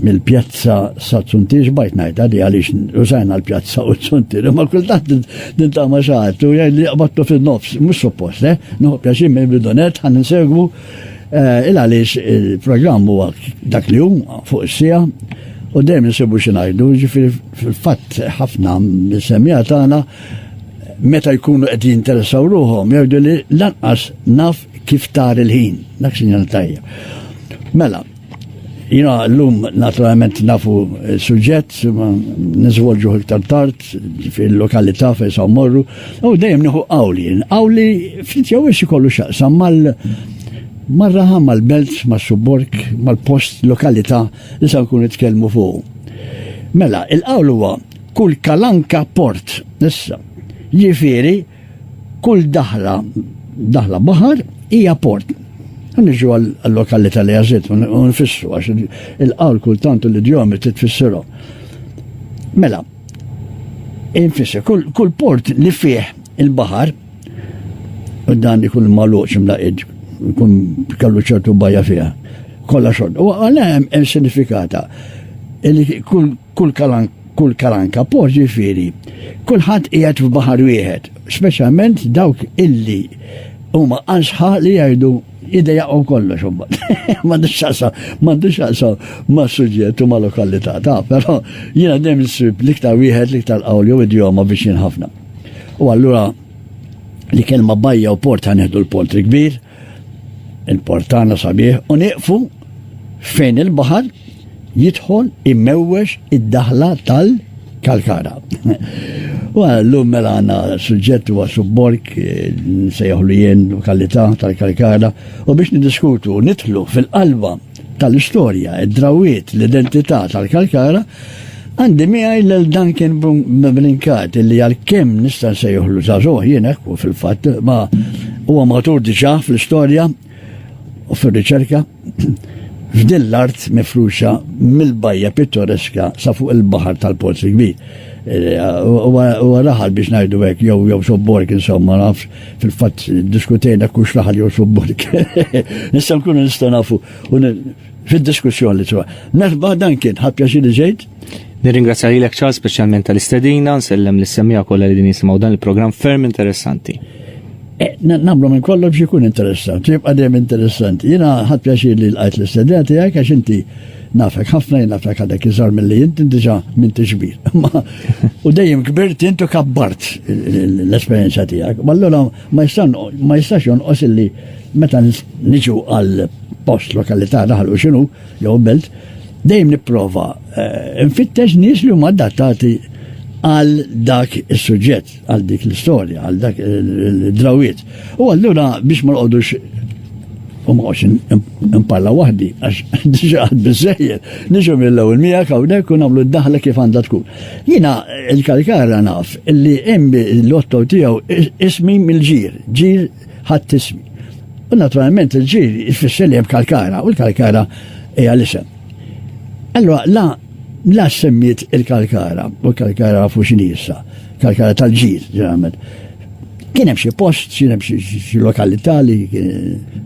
mill-pjazza sa Zuntir xbajt ngħid għadi għaliex użajna l-pjazza u Zuntir, ma kultant nintama xaħat u jgħid li qabattu fin-nofs, mhux suppost, eh? Nuħu pjaċir minn bidonet ħan insegwu eh, il għaliex il-programm huwa dak li hum fuq is-sija u dejjem nsibu xi ngħidu, ġifieri fil-fatt ħafna mis-semija tagħna meta jkunu qed jinteressaw ruħhom jgħidu li lanqas naf kif tar il-ħin, dak sinjal tajjeb. Mela, Jina l-lum naturalment nafu eh, suġġett, nizvolġu iktar tard fil-lokalità fejn sa' morru, u dejjem nieħu qawli, qawli ftit jew ix ikollu xaqsam mal marraħa mal-belt, mas-subborg, mal-post, lokalità li sa' nkun nitkellmu fuq. Mela, il-qawl huwa kull kalanka port, issa, jifieri Kull daħla, daħla baħar, hija port. Niġu għal-lokalità li għazit, u nfissru, għax il-qawl kultant u l-idjomi trid tfissirhom. Mela, infisser, kull port li fih il-baħar, u dan ikun maluċ mlaqid, kun kallu ċertu bajja fiha, kollha xogħol. U għalha hemm sinifikata. Kull kalan kull kalanka post ġifieri kulħadd qiegħed f'baħar wieħed, speċjalment dawk illi huma ansħa li jgħidu idejaqgħu kollox imbagħad. M'għandux xaqsa, m'għandux xaqsa ma' suġġett u ma' lokalità ta' però jiena dejjem nsib l-iktar wieħed l-iktar qawl jew idjoma biex ħafna. U allura li kelma bajja u port ħaneħdu l-port il-kbir, Il-portana sabiħ u nieqfu fejn il-baħar jidħol immewwex id-daħla tal-kalkara. U l-lum mela għanna suġġett huwa subborg sejħlu jien lokalità tal-kalkara u biex nidiskutu nidħlu fil-qalba tal-istorja, id-drawwiet, l-identità tal-Kalkara, għandi miegħi lil Duncan Brincat li għalkemm nista' nsejħlu żagħżugħ jien hekk u fil-fatt ma huwa matur diġà fl-istorja u fir-riċerka f'din l-art mifruxa mill-bajja pittoreska sa fuq il-baħar tal-Pozzi Kbir. Eh, u raħal biex ngħidu hekk jew jew sobborg insomma nafx. Fil-fatt diskutejna jekk hux naħal jew subburg. Issa nkunu nistgħu nafu fid-diskussjoni sewa. Merħba dan kien ħadd pjaċir ġejt. Nirringrazzja lilek ċar speċjalment tal-istedina, nsellem li semmija kollha li din jisimgħu dan il-programm ferm interessanti. Eh, Namlu minn kollox jkun interessanti, jibqa' dejjem interessanti. Jiena ħadd pjaċir li l-qajt l-istedina tiegħek għax inti Nafek ħafna jien nafek għadek iżgħar milli inti diġà m'intix kbir. U dejjem kbirt intu kabbart l-esperjenza tiegħek. Ma allura ma jistax jonqos illi meta niġu għal post lokalità daħlu xinu jew belt, dejjem nipprova eh, nfittex nies li huma adattati għal dak is-suġġett. għal dik l-istorja, għal dak il-drawiet. U allura biex ma nqodux u ma għoċin impalla wahdi, għax diġa għad bizzejjer, diġa mill-law il-mija kawnek kun għamlu d-daħla kif għanda tkun. Jina il-kalkara naf li imbi l-lotto tijaw ismi mill-ġir, ġir ħadd ismi. U naturalment il-ġir jfisser li jem kalkara, u l-kalkara hija l-isem. Allora, la la semmiet il-kalkara, u l-kalkara fu xinisa, kalkara tal-ġid, ġeneralment. Kien hemm xi post, kien hemm xi lokalità li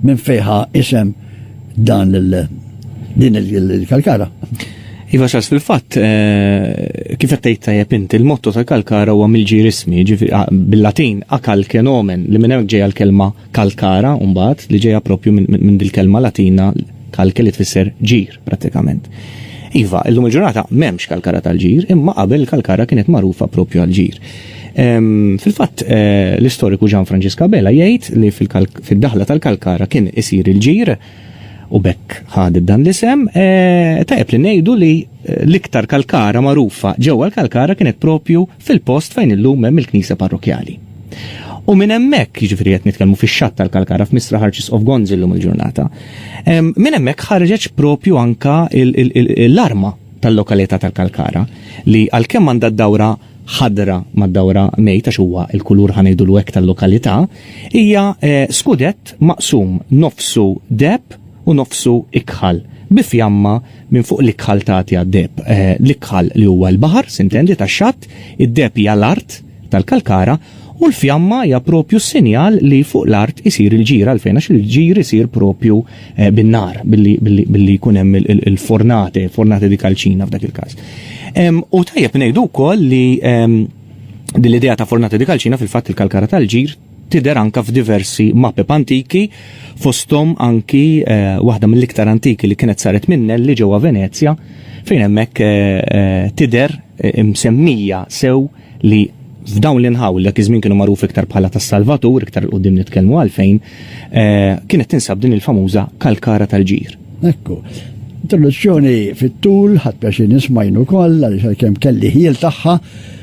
minn fejħa isem dan il din il-kalkara. Iva xas fil-fatt, eh, kif qed tgħid tajjeb inti, il-motto tal-kalkara huwa mill-ġir ismi, bil-Latin akalkenomen li minn hemmhekk ġejja l-kelma Calcara, mbagħad, li ġejja proprju minn dil-kelma Latina calce li tfisser ġir, prattikament. Iva, illum il-ġurnata m'hemmx Calcara tal-ġir, imma qabel Calcara kienet magħrufa proprju għall-ġir. Fil-fatt, eh, l-istoriku Gian Francisca Bella jgħid li fid-daħla tal-Calcara kien isir il-ġir u bekk ħad dan l-isem, eh, tajjeb li ngħidu li eh, l-iktar kalkara magħrufa ġewwa l-kalkara kienet propju fil-post fejn illum hemm il-knisja parrokkjali. U minn hemmhekk, jiġifieri qed nitkellmu fix-xatt tal-Kalkara f'Mistra Arċisqof Gonzi llum il-ġurnata, minn hemmhekk ħarġet propju anke l-arma tal-lokalità tal-Kalkara li għalkemm għandha d-dawra ħadra mad-dawra mejt għax huwa l-kulur ħa ngħidulu hekk tal-lokalità, hija eh, skudett maqsum nofsu deheb u nofsu ikħal, bi fjamma minn fuq l-ikħal tagħti għad-deheb. L-ikħal li huwa l-baħar, sintendi, tax-xatt, id-deheb hija l-art tal-kalkara, u l-fjamma hija proprju s-sinjal li fuq l-art isir il-ġir. Għalfejn? Għax il-ġir isir proprju bin-nar, billi jkun hemm il-fornate, fornate di calcina f'dak il-każ. U tajjeb ngħidu wkoll li din l-idea ta' fornate di calcina fil-fatt il-kalkara tal-ġir, Tidher anke f'diversi mapep antiki, fosthom anki waħda mill-iktar antiki li kienet saret minn Nelli ġewwa Venezja, fejn hemmhekk tidher msemmija sew li f'dawn l-inħawi li dak iż-żmien kienu magħrufi iktar bħala tas-Salvatur, iktar 'l quddiem nitkellmu għalfejn, kienet tinsab din il-famuża kalkara tal-ġir. Ekku. Introduzzjoni fit-tul, ħadt pjaċir nisma' jien ukoll għaliex għalkemm kelli ħjiel tagħha,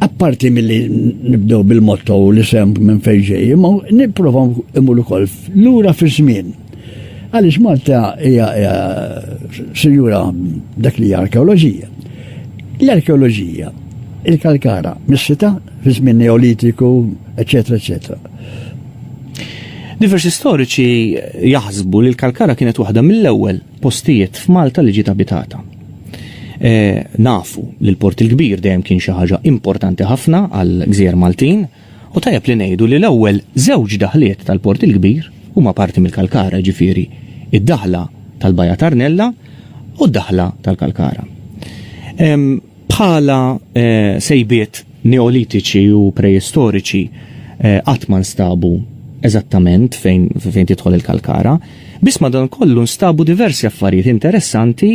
Apparti milli nibdew bil-motto li sem minn fejġej, ma nipprovaw imur ukoll lura fi żmien. Għaliex Malta hija sinjura dak li hija arkeoloġija. L-arkeoloġija, il-kalkara, mis-sita, fi żmien neolitiku, eċetera, eċetera. Diversi storiċi jaħsbu li l-kalkara kienet waħda mill-ewwel postijiet f'Malta li ġiet abitata. Nafu li l-Port il-Kbir dejjem kien xi ħaġa importanti ħafna għall-gżejjer Maltin u tajjeb li ngħidu li l-ewwel żewġ daħliet tal-Port il-Kbir huma parti mill-Kalkara, jiġifieri d-daħla tal-Bajja ta' Rnella u d-daħla tal-Kalkara. Bħala sejbiet Neolitiċi u Preistoriċi qatt ma nstabu eżattament fejn, fejn tidħol il-kalkara, biss madankollu nstabu diversi affarijiet interessanti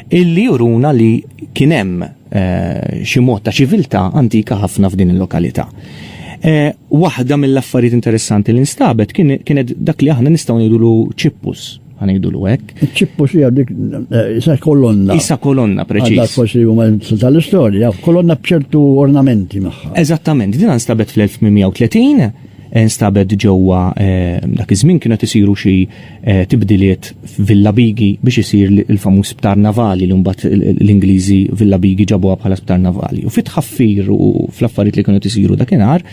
illi juruna li kien hemm eh, xi mod ta' ċiviltà antika ħafna f'din il-lokalità. Eh, waħda mill-affarijiet interessanti li nstabet kienet dak li aħna nistgħu ngħidulu ċippus, għanajdu l hekk. ċippu si għadik, eh, isa kolonna. Isa kolonna, preċis. Għadak forsi huma tal-istorja, kolonna bċertu ornamenti maħħa. Eżattament, din nstabet fl-1830, eh, nstabet ġewwa eh, dak iż-żmien kienu qed isiru xi tibdiliet Villa Bigi biex isir il-famuż sptar navali li mbagħad l-Ingliżi Villa Bigi ġabuha bħala sptar navali. U fit ħaffir u fl-affarijiet li kienu qed isiru dakinhar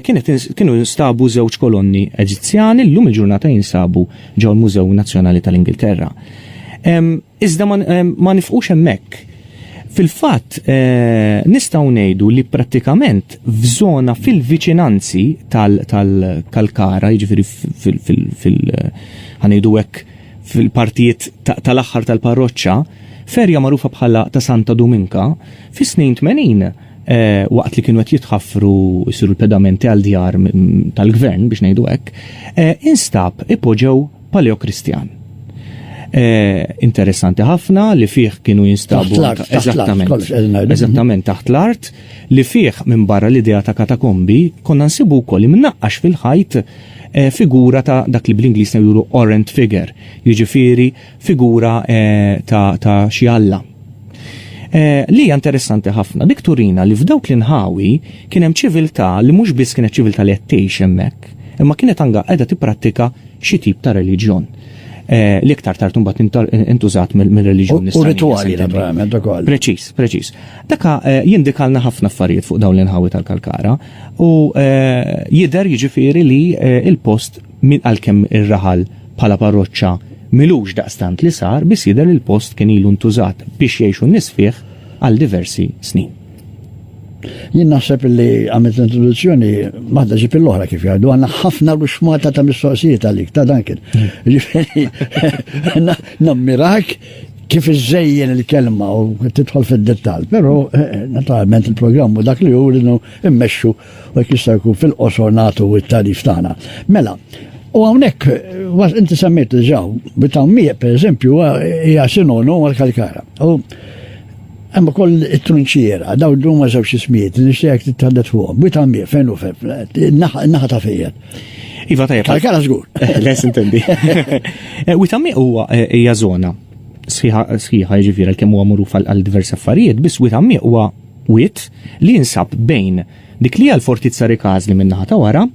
kienu nstabu żewġ kolonni Eġizzjani llum il-ġurnata jinsabu ġo l-Mużew Nazzjonali tal-Ingilterra. Iżda ma nifqux hemmhekk. Fil-fatt, eh, nistgħu ngħidu li prattikament f'żona fil-viċinanzi tal-Kalkara, jiġifieri fil-ħanejdu hekk fil-partijiet tal-aħħar tal-parroċċa, ferja magħrufa bħala ta' Santa Dominka, fis-snin 80 waqt li kienu qed jitħaffru jsiru l-pedamenti għal djar tal-gvern biex ngħidu hekk, instab ipoġew paleokristjan. Interessanti ħafna li fih kienu jinstabu eżattament eżattament taħt l-art li fih minn barra l-idea ta' katakombi konna nsibu wkoll imnaqqax fil-ħajt figura ta' dak li bl-Ingliż juru orant figure, jiġifieri figura ta' xi alla. Li hija interessanti ħafna, dik turina li f'dawk l-inħawi kien hemm ċiviltà li mhux biss kienet ċiviltà li qed tgħix hemmhekk, imma kienet anke qiegħda tipprattika xi tip ta' reliġjon li iktar tard imbagħad intużat mir-reliġjoni Nisranija. U ritwali naturalment ukoll. Preċiż, preċiż. Dak jindikalna ħafna affarijiet fuq dawn l-inħawi tal-Kalkara u jidher jiġifieri li l-post Min qal kemm ir-raħal bħala parroċċa m'ilux daqstant li sar biss jidher li l-post kien ilu ntużat biex jgħixu n-nies fih għal diversi snin. Jien naħseb li għamilt l-introduzzjoni waħda ġib l-oħra kif jgħidu għandna ħafna ruxmata ta' mistoqsijiet għalik ta' dan kien. Nammirak kif iżejjen il-kelma u titħol fid-dettall, però eh, eh, naturalment il-programmu dak li hu immexxu U jekk jista' jkun fil-qosor nagħtu t-tagħrif tagħna. Mela, U hawnhekk, inti semmejt diġà, bitammiq, per eżempju, hija sinonu għal-kalkara. U hemm ukoll it-trunċiera, daw dum ma żewġ ismijiet, nixtieq titħaddet fuqhom. Bitammiq fejn u fejn, naħa ta' fejjed. Iva tajjeb. Kalkara żgur. Les intendi. Eh, Witammiq huwa eh, hija żona sħiħa jiġifieri kemm huwa magħruf għal diversi affarijiet, biss witammiq huwa Wied li jinsab bejn dik li hija l-Fortizza Rikażli min-naħa ta' wara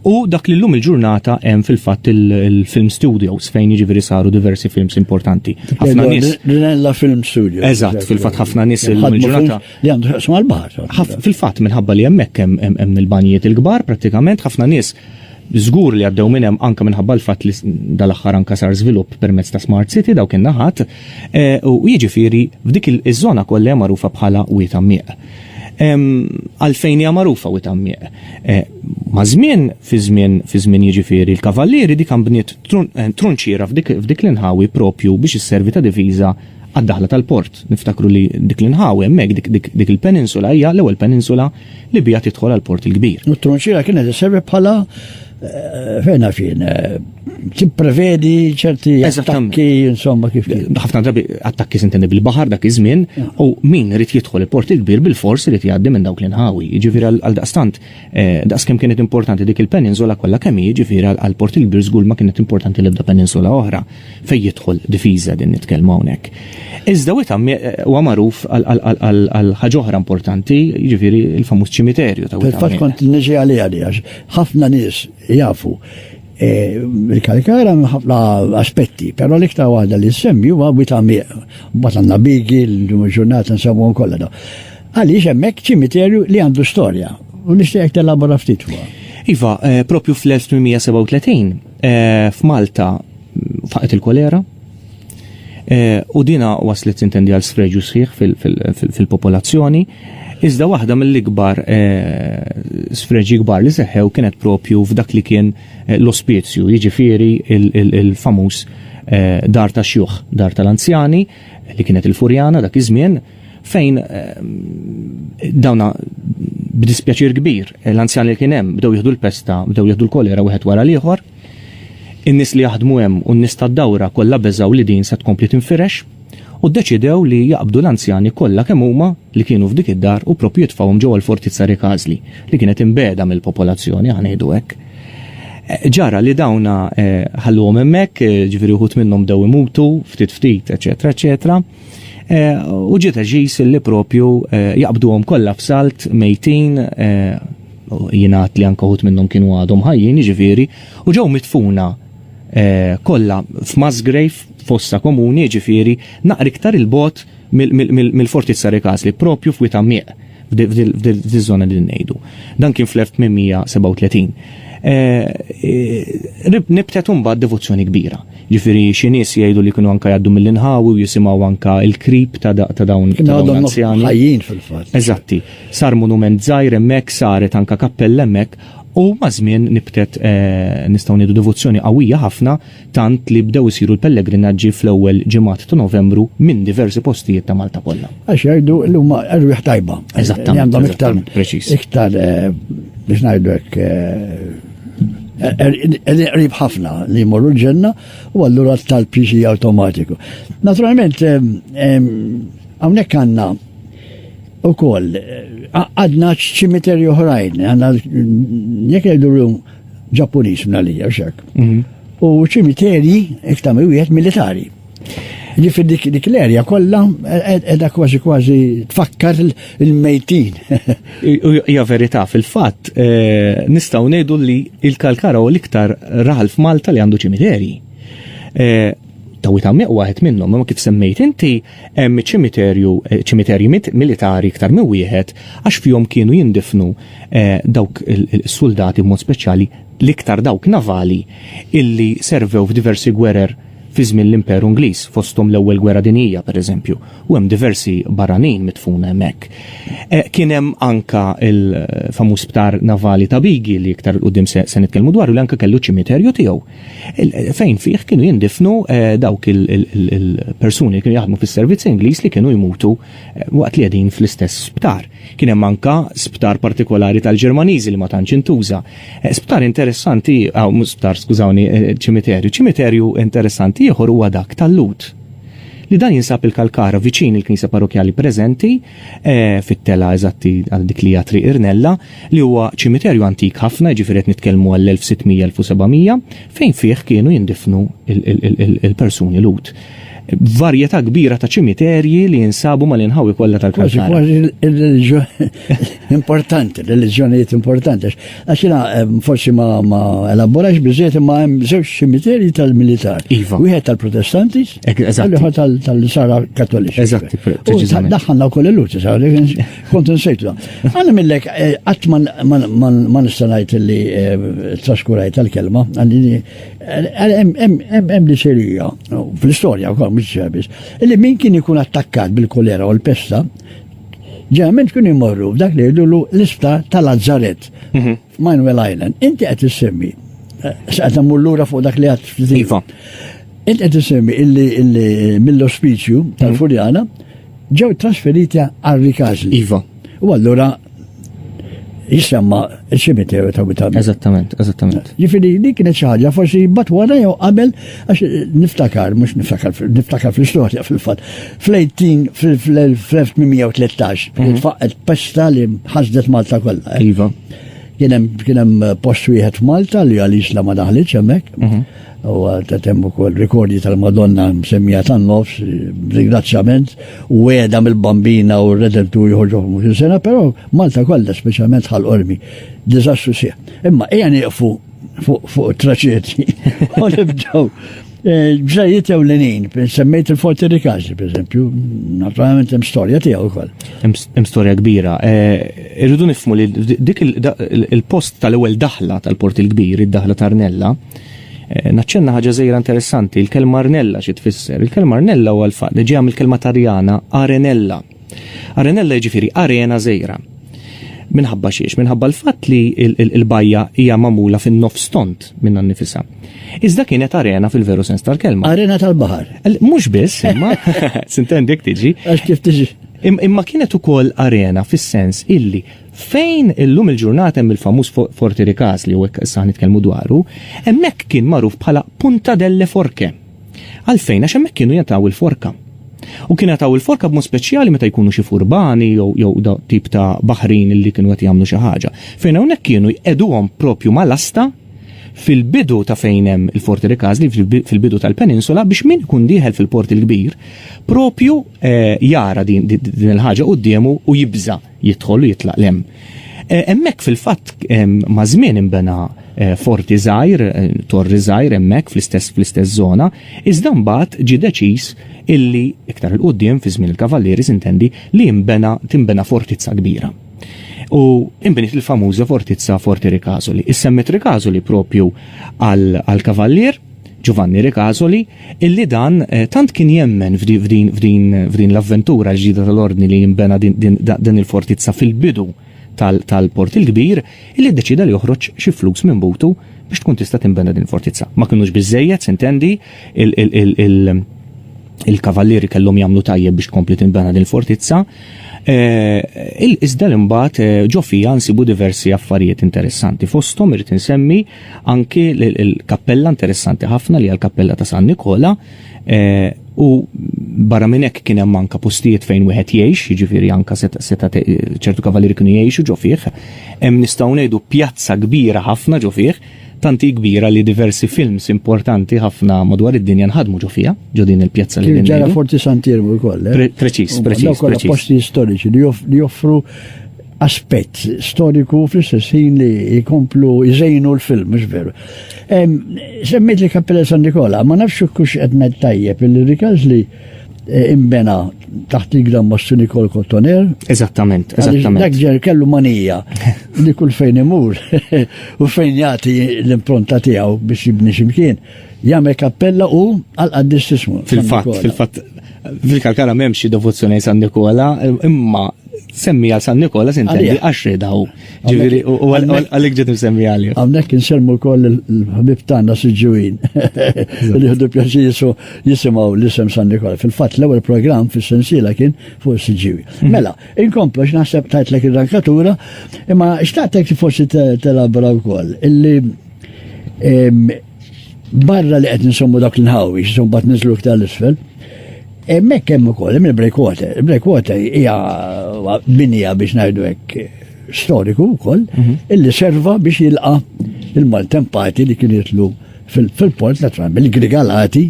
u dak li llum il-ġurnata hemm fil-fatt il-film studios fejn jiġifieri saru diversi films importanti. Ħafna nies. Rinella Film Studio. Eżatt, fil-fatt ħafna nies illum il-ġurnata. Li għandu xaqsmu għal-baħar. Fil-fatt minħabba li hemmhekk hemm il-banjiet il-kbar prattikament ħafna nies żgur li għaddew minn hemm anke minħabba l-fatt li dal-aħħar anke sar żvilupp permezz ta' Smart City dawk in-naħat U jiġifieri f'dik iż-żona kollha hija magħrufa bħala Wied Għammieq. Għalfejn hija magħrufa Wied Għammieq? Maż-żmien, fi żmien, fi żmien jiġifieri l-Kavallieri dik nbniet trunċiera f'dik l-inħawi proprju biex isservi ta' diviża għad-daħla tal-port. Niftakru li dik l-inħawi hemmhekk, dik il-peninsula hija l-ewwel peninsula li bija tidħol għal port il-kbir. U t-tronċiera kienet iservi bħala eh, fejna fin, eh, tipprevedi ċerti attakki, insomma, kif kien. ħafna drabi attakki sintendi bil-bahar dak iż-żmien u min irid jidħol il-port il-kbir bil-fors irid jgħaddi minn dawk l-inħawi. Jiġifieri għal daqstant, eh, daqs kemm kienet importanti dik il-peninsula kollha kemm jiġifieri għal port il-kbir żgur ma kienet importanti l-ebda peninsula oħra. Fejn jidħol difiża din nitkellmu hawnhekk. Iżda Witham huwa magħruf għal ħaġa oħra importanti, jiġifieri l-famuż ċimiterju ta' Witham. Fil-fatt kont niġi għalija li għax ħafna nies jafu e, il-karikara minn ħafna aspetti, però l-iktar waħda li semmi huwa Witham bat għandna bigi l-ġurnata nsemmu kollha. Għaliex hemmhekk ċimiterju li għandu storja u nixtieq telabora ftit huwa. Iva, eh, propju fl-1837, Eh, F'Malta faqet il-kolera eh, u dina waslet intendi għal sfreġu sħiħ fil-popolazzjoni. Iżda waħda mill-ikbar eh, sfreġi kbar li seħħew kienet propju f'dak li kien l-ospizju, jiġifieri il-famuż dar ta' xjuħ, dar tal-anzjani li kienet il-Furjana dak iż-żmien fejn eh, dawna b'dispjaċir kbir l-anzjan li kien hemm bdew jieħdu l-pesta, bdew jieħdu l-kolera wieħed wara l-ieħor. In-nies li jaħdmu hemm u n-nies tad-dawra kollha beżaw li din se tkompli tinfirex u ddeċidew li jaqbdu l-anzjani kollha kemm huma li kienu f'dik id-dar u propju jitfawhom ġewwa l-fortizza Rikazli li kienet imbeda mill-popolazzjoni ħanejdu hekk. Eh, ġara li dawna eh, ħalluhom hemmhekk, ġifieri wħud minnhom dew imutu, ftit ftit, eċetera, eċetera. U ġiet ġis li propju jaqbduhom kollha f'salt mejtin jingħad li anke wħud minnhom kienu għadhom ħajjin jiġifieri u ġew mitfuna Eh, kollha f'Masgrave fossa komuni ġifiri naqri iktar il-bot mill-fortizza Rekasli propju f'wita mieq. f'dil-żona li ngħidu. Dan kien fl-1837. Eh, eh, nibtet mbagħad devozzjoni kbira. Ġifieri xi nies jgħidu li kienu anke jgħaddu mill-inħawi u jisimgħu anke il-krib ta' dawn l-anzjani. Ħajjin fil-fatt. Eżatti. Sar monument żgħir hemmhekk saret anke kappell hemmhekk u mażmien nibtet eh, nistgħu ngħidu devozzjoni qawwija ħafna tant li bdew isiru l-pellegrinaġġi fl-ewwel ġimgħat ta' Novembru minn diversi postijiet ta' Malta kollha. Għax jgħidu li huma erwieħ tajba. Eżattament. Għandhom iktar preċiż. Iktar eh, biex ngħidu hekk eh, eh, er-, qrib ħafna li jmorru l-ġenna u allura tal-pixi awtomatiku. Naturalment, hawnhekk għandna u koll, għadna ċimiterju oħrajn, għanna jek jgħidu Ġappuniż minn għalija xek. Mhm. U ċimiterji iktar wieħed militari. Ġifir dik dik l-erja kollha edha kważi kważi tfakkar il-mejtin. Ja verità fil-fatt eh, nistgħu ngħidu li il-Kalkara u l-iktar raħal f'Malta li għandu ċimiterji. Eh, Tawita meqwa għet minnhom, ma kif semmejt inti Hemm ċimiterju, ċimiterji militari iktar minn wieħed għax fihom kienu jindifnu dawk is-suldati b'mod speċjali l-iktar dawk navali illi servew f'diversi gwerer fi żmien l-Imperu Ingliż, fosthom l-Ewwel Gwerra Dinjija, pereżempju, u hemm diversi barranin midfuna hemmhekk. Kien hemm anke l-famuż sptar navali ta' Bigi li iktar 'il quddiem se nitkellmu dwaru li anke kellu ċimiterju tiegħu. fejn fih kienu jindifnu eh, dawk il-persuni li kienu jaħdmu fis-servizz Ingliż li kienu jmutu eh, waqt li qegħdin fl-istess sptar. Kien hemm anka sptar partikolari tal-Ġermaniżi li ma tantx intuża. Eh, sptar interessanti, aw sptar skużawni, ċimiterju, ċimiterju interessanti ieħor huwa dak tal-Lut li dan jinsab il-Kalkara viċin il-Knisa Parrokjali preżenti fit-tela eżatti għal dik li triq Irnella li huwa ċimiterju antik ħafna, jiġifieri qed nitkellmu għall-1600-1700, fejn fih kienu jindifnu l-persuni Lhud. Varjetà kbira ta' ċimiterji li jinsabu mal-inħawi kollha tal-Kalkara. Kważi kważi importanti, reliġjonijiet importanti. Għax jiena eh, forsi ma elaborax biżejjed imma hemm żewġ ċimiterji tal-militar. Iva. Wieħed tal-Protestanti, l-ieħor tal-Sara Kattoliċi. Eżatt, preċiżament. Daħħalna wkoll il-Lhud, Kont nsejtla. Għanna millek, eh, għat ma nistanajt li eh, traskurajt tal-kelma, għalli hemm eh, diserija, fl-istoria u kol, mux li min kien ikun attakkat bil-kolera u l-pesta, ġeneralment kien imorru f'dak li jidullu l-isptar tal-Azzaret, mhm. Manuel Island. Inti għet s-semmi, s-għet l-ura fuq dak li għat. Iva. Int qed isemmi illi mill-ospiċju hmm. tal-Fuljana ġew trasferiti għal Rikażli. Iva. U allura jisemma il-ċimiteru ta' Witam. Eżattament, eżattament. Ġifiri, li kienet xaħġa, forsi bat wara jew qabel, għax niftakar, mux niftakar, niftakar fl-istoria fil-fat. Fl-18, fl-1813, mhm. faqqet pesta li ħazdet Malta kollha. Eh? Iva. Kienem post wieħed Malta li għalix la ma daħliċ hemmhekk. Mhm. u għaltet hemm ukoll rikordji tal-Madonna msemmija tan-nofs, ringrazzjament, u għeda mill-bambina u r-redentu jħorġu f'mux sena, però Malta kollha speċjalment ħal ormi Diżastru sieħ. Imma hija nieqfu fuq traċeti u nibdew eh, ġrajiet ewlenin, semmejt il-Forti Rikazi, per eżempju, naturalment hemm storja tiegħu wkoll. Hemm storja kbira. Eh, irridu nifmu li dik il-post tal-ewwel daħla tal-Port il-Kbir, id-daħla Tarnella, Eh, naċċenna ħaġa żejra interessanti, il-kelma arnella xi tfisser. Il-kelma arnella huwa l-fatt li ġejja mill-kelma tarjana arenella. Arenella jiġifieri arena żejra. Minħabba xiex, minħabba l-fatt li l-bajja hija magħmula fin-nof stont minn nifisa. Iżda kienet arena fil-veru sens tal-kelma. Arena tal-baħar. Mhux biss, imma sintendi tiġi. Għax kif tiġi. Imma kienet ukoll arena fis-sens illi Fejn illum il-ġurnata hemm il-famuż Forti Rikas li hawnhekk issa nitkellmu dwaru, hemmhekk kien magħruf bħala Punta delle Forche. Għalfejn? Għax hemmhekk kienu jingħataw il-forka. U kienu jingħataw il-forka b'mod speċjali meta jkunu xi furbani jew jew tip ta' baħrin li kienu qed jagħmlu xi ħaġa. Fejn hawnhekk kienu jqegħduhom propju mal-asta fil-bidu ta' fejn hemm il-Forti Rikazli fil-bidu tal-peninsula biex min kun dieħel fil-port il-kbir propju eh, jara din il-ħaġa qudiemu u jibża. jidħol u jitlaq 'l hemm. Hemmhekk fil-fatt maż-żmien inbena forti żgħir, torri żgħir hemmhekk fl-istess fl-istess żona, iżda mbagħad ġie deċiż illi iktar 'il quddiem fi żmien il-Kavallieri s'intendi li jinbena tinbena fortizza kbira. U inbniet il-famuża fortizza Forti Ricasoli. Issemmiet Ricasoli proprju għall-Kavallier Ġuvanni Ricasoli illi dan tant kien jemmen f'din l-avventura l-ġdida tal-Ordni li jinbena din il-fortizza fil-bidu tal-Port il-Kbir, illi ddeċieda li joħroġ xi flus minn butu biex tkun tista' tinbena din il-fortizza. Ma kinux biżżejjed, s'intendi, il-Kavallieri kellhom jagħmlu tajjeb biex tkompli tinbena din il-fortizza, iżda li mbagħad ġo fiha nsibu diversi affarijiet interessanti. Fosthom irrid insemmi Anki l-kappella interessanti ħafna li għal-kappella ta' San Nikola eh, u barra minn hekk kien hemm anka postijiet fejn wieħed jgħix, jiġifieri anka seta' ċertu kavalieri kienu jgħixu ġo fih. Hemm nistgħu ngħidu pjazza kbira ħafna ġo fih, tanti kbira li diversi films importanti ħafna madwar id-dinja nħadmu ġo fiha, ġo din il-pjazza li ġara Forti Santiermu wkoll. Eh? Preċiż, preċiż. Posti storiċi li joffru aspett storiku fl-istess ħin li jkomplu jżejnu l-film, mhux veru. Semmejt li Kappella San Nikola, ma nafx kux qed ngħid tajjeb li rikaz li e, imbena taħt il-gran Mastu Nikol Kottoner. Eżattament, eżattament. Dak ġer kellu manija li kull fejn imur u fejn jagħti l-impronta tiegħu biex jibni ximkien, jagħmel kappella u għal qaddistismu. Fil-fatt, fil-fatt fil-kalkara memx devozzjoni San Nikola, imma Semmi għal San Nikola sintendi għax redaw. Ġiviri, u għalik ġet nsemmi għalli. Għamnek nsemmu koll il-ħabib tanna siġuin. Li ħdu pjaċi jisu jisimaw l-isem San Nikola. Fil-fat l-ewel program fil sensila kien fuq siġuin. Mhm. Mela, inkomplu x'naħseb tajt l il-rankatura, imma xtaqtek forsi telabra u koll. Illi Barra li qed insommu dak l-inħawi, xisum bat nizlu iktar l-isfel, Emmek kemm ukoll hemm il-breakwater. Il-breakwater hija binija biex ngħidu hekk storiku wkoll mhm. illi serva biex jilqa' il-maltempati li kien jitlu fil-port ta' Tram, il-Grigalati,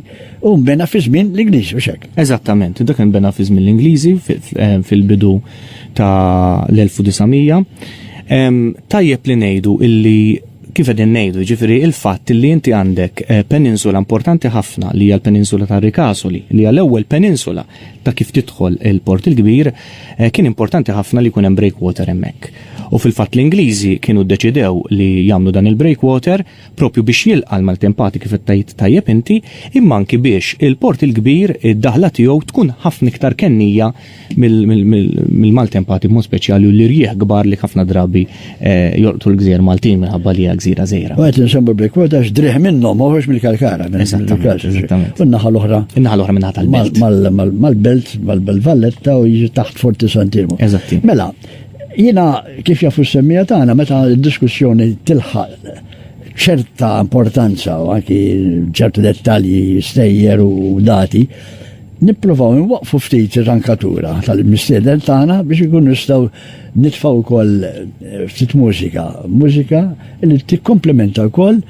u mbena fi żmien l-Ingliżi u xek. Eżattament, dak mbena fi żmien l-Ingliżi eh, fil-bidu ta' l-1900. Tajjeb li ngħidu illi kif qegħdin ngħidu, jiġifieri l-fatt li inti għandek eh, peninsula importanti ħafna li hija l-peninsula ta' Rikasoli, li hija l-ewwel peninsula ta' kif tidħol il-Port il-Kbir, eh, kien importanti ħafna li jkun hemm breakwater hemmhekk. U fil-fatt l-Ingliżi kienu ddeċidew li jagħmlu dan il-breakwater propju biex jilqa' l-maltempati kif tajt tajjeb inti, imma anki biex il-Port il-Kbir id-daħla tiegħu tkun ħafna iktar kennija mill-maltempati b'mod speċjali u l-irjieħ kbar li ħafna drabi eh, jolqtu l-gżir Maltin minħabba li hija gżira żgħira. U qed nsemmu Blackwood għax driħ minnhom ma ħorġ mill-Kalkara. Eżattament. U n-naħa l-oħra. In-naħa l-oħra minn tal-belt. Mal-belt, mal-belt Valletta u jiġi taħt Forti Santimu. Eżatti. Mela, jiena kif jafu s-semmija tagħna meta d-diskussjoni tilħaq ċerta importanza u anki ċertu dettalji stejjer u dati, Nipprovaw inwaqqfu ftit ir-rankatura tal-mistieden tagħna biex inkunu nistgħu nitfgħu wkoll ftit mużika, mużika li tikkomplementa wkoll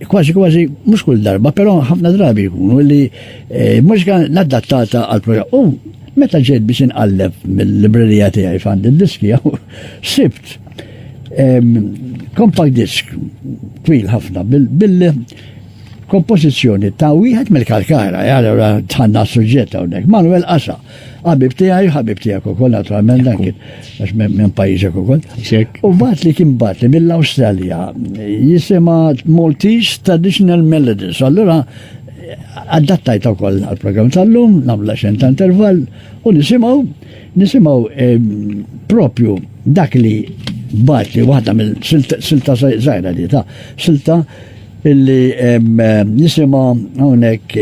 kważi kważi mhux kull darba, però ħafna drabi jkunu li eh, mużika l-adattata għal programm. U meta ġejt biex inqalleb mill-librerija tiegħi fand id-diski jew sibt ehm, compact disk twil ħafna bil Kompożizzjoni ta' wieħed mill-Kalkara, eh, allura tħanna suġġett hawnhekk. Manuel Qasa, ħabib tiegħi, ħabib tiegħek ukoll naturalment dan kien għax minn pajjiżek ukoll. U bat li kien bat li mill-Awstralja jisima Maltese Traditional Melodies. Allura adattajt ukoll għal-programm tal-lum, nagħmlu xejn ta' intervall u nisimgħu nisimgħu ehm, propju dak li bat li waħda mill-silta żgħira di ta' silta Illi nisimgħu hawnhekk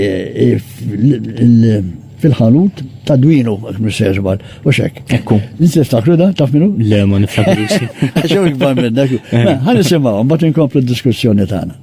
fil-ħanut ta' dwinu, msejżbal, u xek. Ekku. Inti tiftakru da, taf minu? Le, ma niftakru. Għaxu ikbar minna. Għan nisimaw, bat inkomplu diskussjoni tagħna.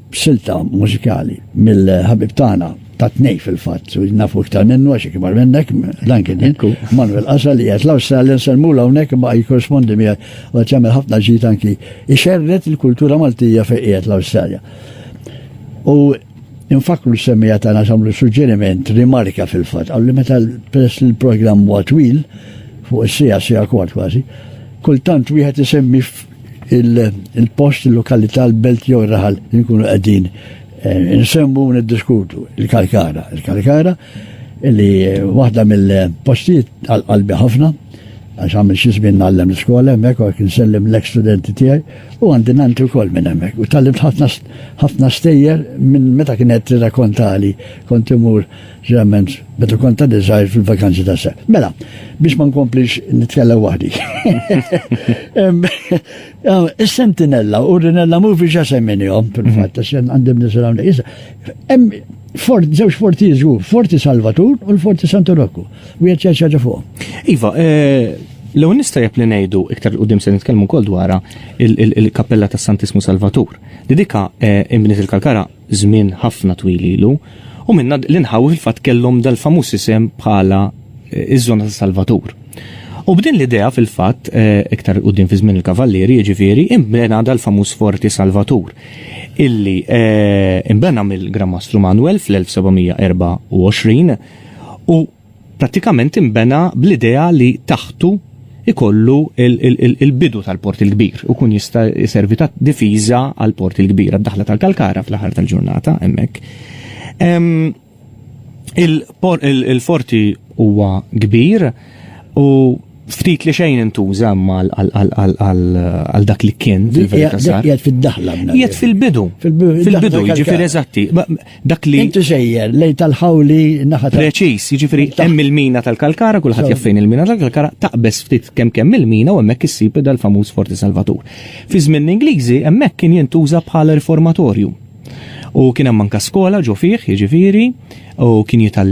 b'silta mużikali mill-ħabib tagħna ta' tnej fil-fatt, u nafu iktar minnu għax ikbar minnek, dan kien inku, Manuel Qasra li għet l-Awstralja nselmu l-għonek ma jikorrespondi mi għet jagħmel ħafna ġit anki ixerret il-kultura Maltija fejn qiegħed l-Awstralja. U infakru l-semmija ta' nasamlu suġġeriment, rimarka fil-fatt, għalli meta peress il-programm huwa twil, fuq is-sija, sija kwart kważi, kultant wieħed isemmi il-post, il-lokalità, l-belt jew ir-raħal li nkunu qegħdin eh, nsemmu u niddiskutu il-Kalkara. Il-Kalkara li eh, waħda mill-postijiet għal-qalbi ħafna għax għamil xi żmien nagħllem l-iskola hemmhekk u għek nsellem l-studenti tiegħi u għandi nanti wkoll minn hemmhekk. U tallimt ħafna stejjer minn meta kienet rakontali kont imur Ġeneralment, meta kont għaddi żgħir fil-vakanzi ta' se. Mela, biex ma nkomplix nitkellem waħdi. Is-sentinella u rinella muvi ġa semminihom, fil-fatt, għax għandim nisram li fort, zewġ forti jizgu, forti Salvatur u l-forti Santu Rokku. U jgħet ċaġa fuq. Iva, eh, l nista jep li nejdu, iktar u dim se nitkellmu kol dwara, il-kappella ta' Santismu Salvatur. Li dika eh, imbniet il-kalkara żmien ħafna twil ilu, u minnha l-inħawi fil-fatt kellhom dal-famuż isem bħala ż-żona ta' Salvatur. U b'din l-idea fil-fatt, iktar quddiem fi żmien il-Kavallieri jiġifieri, inbena dal-famuż Forti Salvatur, illi inbena mill-Gran Mastru Manwel fl-1724, u, prattikament inbena bl-idea li taħtu jkollu l-bidu tal-Port il-Kbir u jkun jista' jservi ta' difiża għall-Port il-Kbir, għad-daħla tal-Kalkara fl-aħħar tal-ġurnata hemmhekk. Il-forti huwa kbir u ftit li xejn intuża għal dak li kien fil-verità sar. Jgħid fid-daħla. Jgħid fil-bidu. Fil-bidu, jiġifieri eżatti. Dak li. Inti sejjer lej tal-ħawli naħa ta' Preċiż, jiġifieri hemm il-mina tal-Kalkara, kulħadd jaf fejn il-mina tal-Kalkara, taqbeż ftit kemm kemm il-mina u hemmhekk issib dal-famuż Forti Salvatur. Fi żmien l-Ingliżi hemmhekk kien jintuża bħala riformatorju. U kien hemm anka skola ġo fih, jiġifieri, u kien jital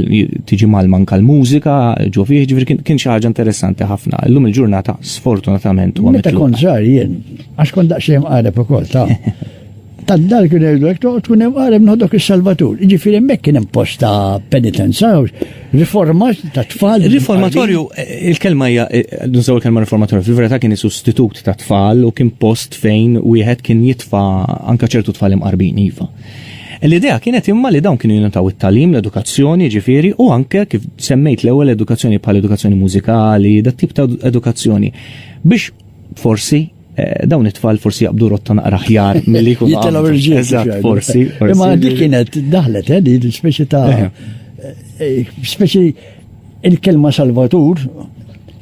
tiġi mal manka l-mużika ġo fih, jiġifieri kien xi ħaġa interessanti ħafna. Illum il-ġurnata sfortunatament huwa Meta kont żgħar jien, għax kont daqsxejn qareb ukoll ta'. Ta' dar kien jgħidu hekk toqgħod tkun hemm qara minn ħodok is-Salvatur. Jiġifieri hemmhekk kien hemm post ta' penitenza, riforma ta' tfal. Riformatorju, il-kelma hija eh, nużaw il-kelma riformatorju, fil-verità kien is-sustitut ta' tfal u kien post fejn wieħed kien jitfa' anka ċertu tfal imqarbin iva. L-idea kienet imma li dawn kienu jinutaw it-talim, l-edukazzjoni, ġifiri, u anke kif semmejt l-ewwel edukazzjoni bħal edukazzjoni mużikali, dat tip ta' edukazzjoni biex forsi Eh, dawn it-tfal forsi jaqbdu rotta naqra ħjar mill-li kun. Jitelaw irġiel. Eżatt, forsi. Imma dik kienet daħlet, eh, di l-speċi ta' eh. Eh, speċi il-kelma salvatur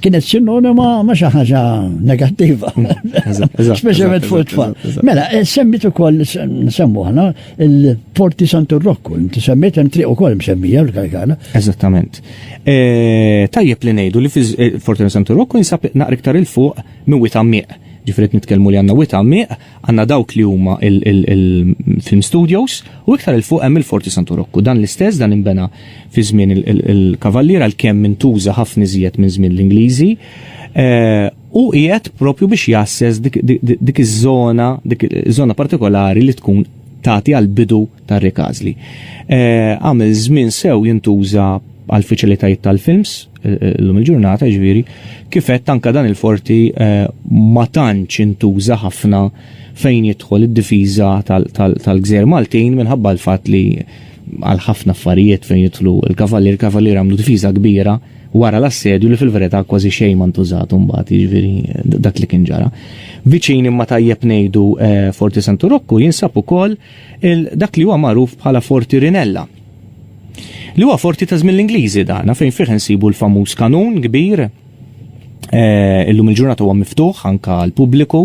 kienet sinonima ma xi ħaġa negattiva. Speċjalment fuq it-tfal. Mela, semmit ukoll nsemmu ħana il-Porti Santu Rokku, inti semmit hemm triq ukoll msemmija l-Kalkana. Eżattament. Tajjeb li ngħidu li fil-Porti Santu Rokku jinsab naqra iktar il-fuq minn wied għammiq. Ġifieri qed nitkellmu li għandna wied għammiq, għandna dawk li huma il-film studios u iktar 'il fuq hemm il-Forti Santu Rokku. Dan l-istess, dan inbena fi żmien il-Kavallier għalkemm intuża ħafna iżjed minn żmien l-Ingliżi u qiegħed propju biex jgħasses dik iż-żona, dik iż-żona partikolari li tkun tagħti għall-bidu ta' Rick Asli. Eh, għamil żmien sew jintuża għal fiċilitajiet tal-films, eh, eh, l-lum il-ġurnata ġviri, kifet tanka dan il-forti ma tantx intuża ħafna fejn jidħol id-difiża tal-gżer Maltin minħabba l-fat li għal ħafna affarijiet fejn jidħlu il-kavallir, il-kavallir għamlu difiża kbira wara l-assedju li fil-verità kważi xejn ma ntużat mbagħad jiġifieri dak li kien ġara. Viċin imma tajjeb ngħidu Forti Santu Rokku jinsab ukoll 'il dak li huwa magħruf bħala Forti Rinella, li huwa forti ta' żmien l-Ingliżi dana fejn fih insibu l-famuż kanun kbir eh, illum il-ġurnata huwa miftuħ anka l-pubbliku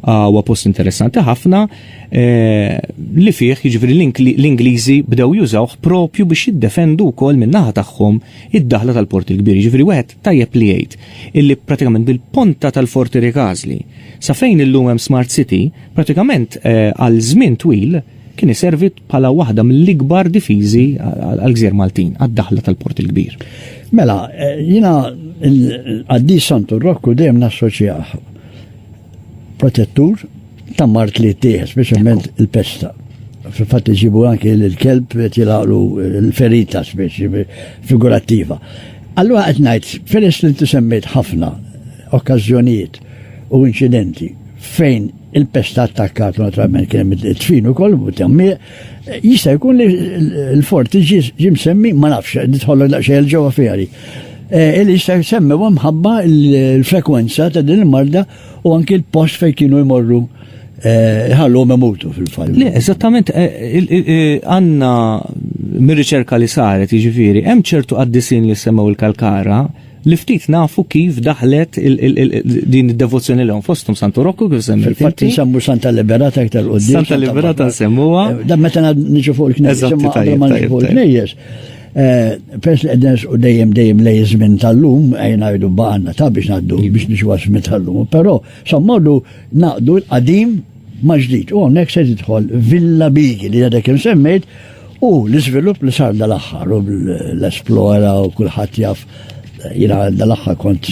ah, huwa post interessanti ħafna eh, li fih jiġifieri l-Ingliżi bdew jużawh propju biex jiddefendu wkoll min-naħa tagħhom id-daħla tal-Port il-Kbir. Jiġifieri wieħed Tajjeb li jgħid illi pratikament bil-ponta tal-Forti Ricasli, sa fejn illum hemm Smart City, pratikament għal żmien twil kien iservi bħala waħda mill-ikbar difiżi għall-gżejjer Maltin, għad-daħla tal-Port il-Kbir. Mela, jiena l-qaddis Santu Rokku dejjem nassoċjah. protettur ta' mart li jittieħed, speċjalment il-pesta. Fil-fatt iġibu anki l-kelb qed jilaqlu l-ferita speċi figurattiva. Allura qed ngħid, peress li inti semmejt ħafna okkażjonijiet u inċidenti fejn il-pesta attakkat naturalment kien hemm it-tfin ukoll u tammiq, Jista' jkun li l-fort ġim semmi, ma nafx, nidħollu daqsxejn il-ġewwa fjari. Eh, li jista' semmi u mħabba l-frekwenza ta' din il-marda u anki l-post fejn kienu jmorru eh, ħallu memutu fil-fall. Le, eżattament, eh, għanna mir-riċerka li saret, jiġifieri, hemm ċertu għaddisin li semmew il-kalkara, li ftit nafu kif daħlet din id-devozzjoni lehom fosthom Santu Rokku kif semmi. Fil-fatt nsemmu Santa Liberata iktar qudiem. Santa Liberata nsemmuha. Eh, da meta niġu fuq il-knejjes. Eżatt, tajjeb, tajjeb. il-knejjes. Eh, pers li għednes u dejjem dejjem lej żmien tal-lum, għajna għajdu baqanna ta' biex naddu biex nixu għasmi tal-lum. Pero, sammodu naqdu l-qadim maġdid. U għonek se tidħol Villa Bigi li għadek semmejt U l-iżvilupp li sar dal-aħħar u l-esplora u kulħadd jaf jina dal-aħħar kont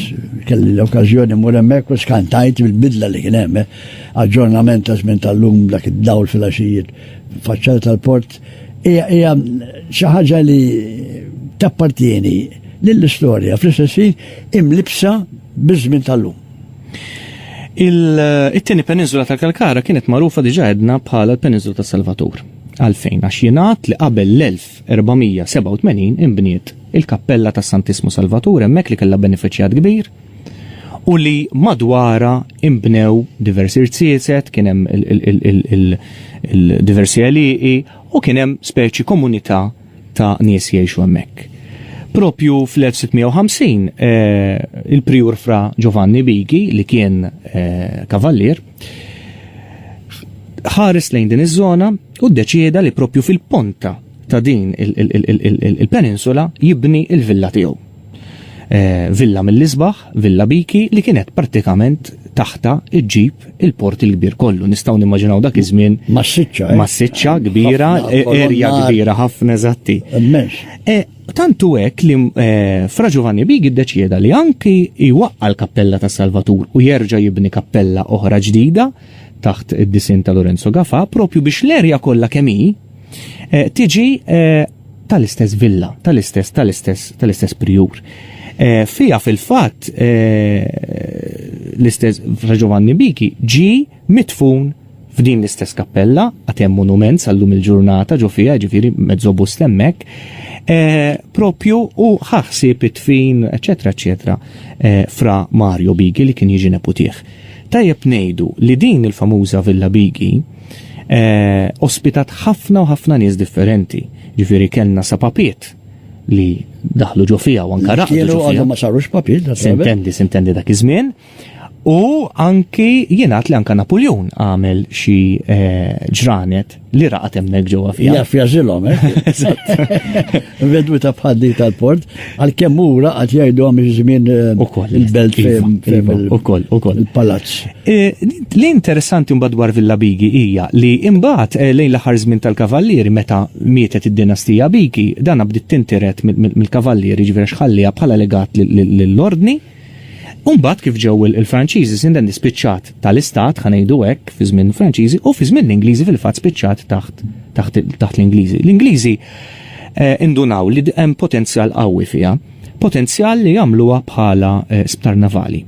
kelli l-okkażjoni mur hemmhekk u skantajt bil-bidla li kien hemm. Eh. Aġġornament ta' żmien tal-lum dak id-dawl fil-għaxijiet faċċata tal-port hija xi ħaġa li tappartieni lill-istorja fl-istess imlibsa biż-żmien tal-lum. Il-tieni peninsula tal-Kalkara kienet magħrufa diġa għedna bħala l-peninsula ta' Salvatur. Għalfejn? Għax jingħad li qabel l-1487 inbniet il-kappella ta' Santissmu Salvatur hemmhekk li kellha benefiċjat kbir u li madwarha inbnew diversi rziezet, kien hemm il-diversi għelieqi u kien hemm speċi komunità ta' nies jgħixu hemmhekk. Propju fl-1650 eh, il-prijur fra Giovanni Bigi li kien eh, kavallier ħares lejn din iż-żona u ddeċieda li propju fil-ponta ta' din il-peninsula jibni il-villa tiegħu. Eh, villa mill-isbaħ, villa biki li kienet pratikament taħta iġġib il-port il-kbir kollu. Nistaw nimmaġinaw dak iż-żmien. Massiċċa. Eh? Massiċċa kbira, erja kbira ħafna eżatti. Eh, Tantu hekk li eh, Fra Giovanni Big iddeċieda li anki jwaqqa l-Kappella ta' Salvatur u jerġa' jibni kappella oħra ġdida taħt id-disin ta' Lorenzo Gafa propju biex l-erja kollha kemm hi eh, tiġi eh, tal-istess villa, tal-istess tal-istess tal-istess prijur. Fija fil-fatt l-istess Fra Giovanni Biki ġi Midfun f'din l-istess kappella, għad hemm monument sal-lum il-ġurnata ġo fiha, ġifieri mezzobust hemmhekk, eh, propju u ħaħsib it-tfin, eċetera, eċetera, eh, fra Mario Bigi li kien jiġi neputih. Tajjeb ngħidu li din il-famuża Villa Bigi eh, ospitat ħafna u ħafna nies differenti. Ġifieri kellna sa papiet li daħlu ġo fiha u anka raqdu ġo fiha. Kienu ma sarux papiet. Sintendi, sintendi dak iż-żmien. U anki jenat li anka Napoleon għamel xi eh, ġranet li raqat hemmhekk ġewwa fija. Jaf jażilhom, eh? Vedwi ta' bħaddi tal-port, għal kemm ura għad jgħidu għam żmien eh, il-belt iva, fejn iva, il-palazz. Li interessanti mbagħad dwar Villa Bigi hija li imbagħad lejn l-aħħar żmien tal-kavallieri meta mietet id-dinastija Bigi, dan bdiet tinteret mill-kavallieri ġifieri xħallija bħala legat lill-ordni. U mbagħad kif ġew il-Franċiżi Sindendi spiċċat tal-istat, ħa ngħidu hekk, fi żmien Franċiżi u fi żmien l-Ingliżi fil-fatt spiċċat taħt taħt taħt l-Ingliżi. L-Ingliżi eh, indunaw li hemm potenzjal qawwi fiha, potenzjal li jagħmluha bħala eh, sptar navali.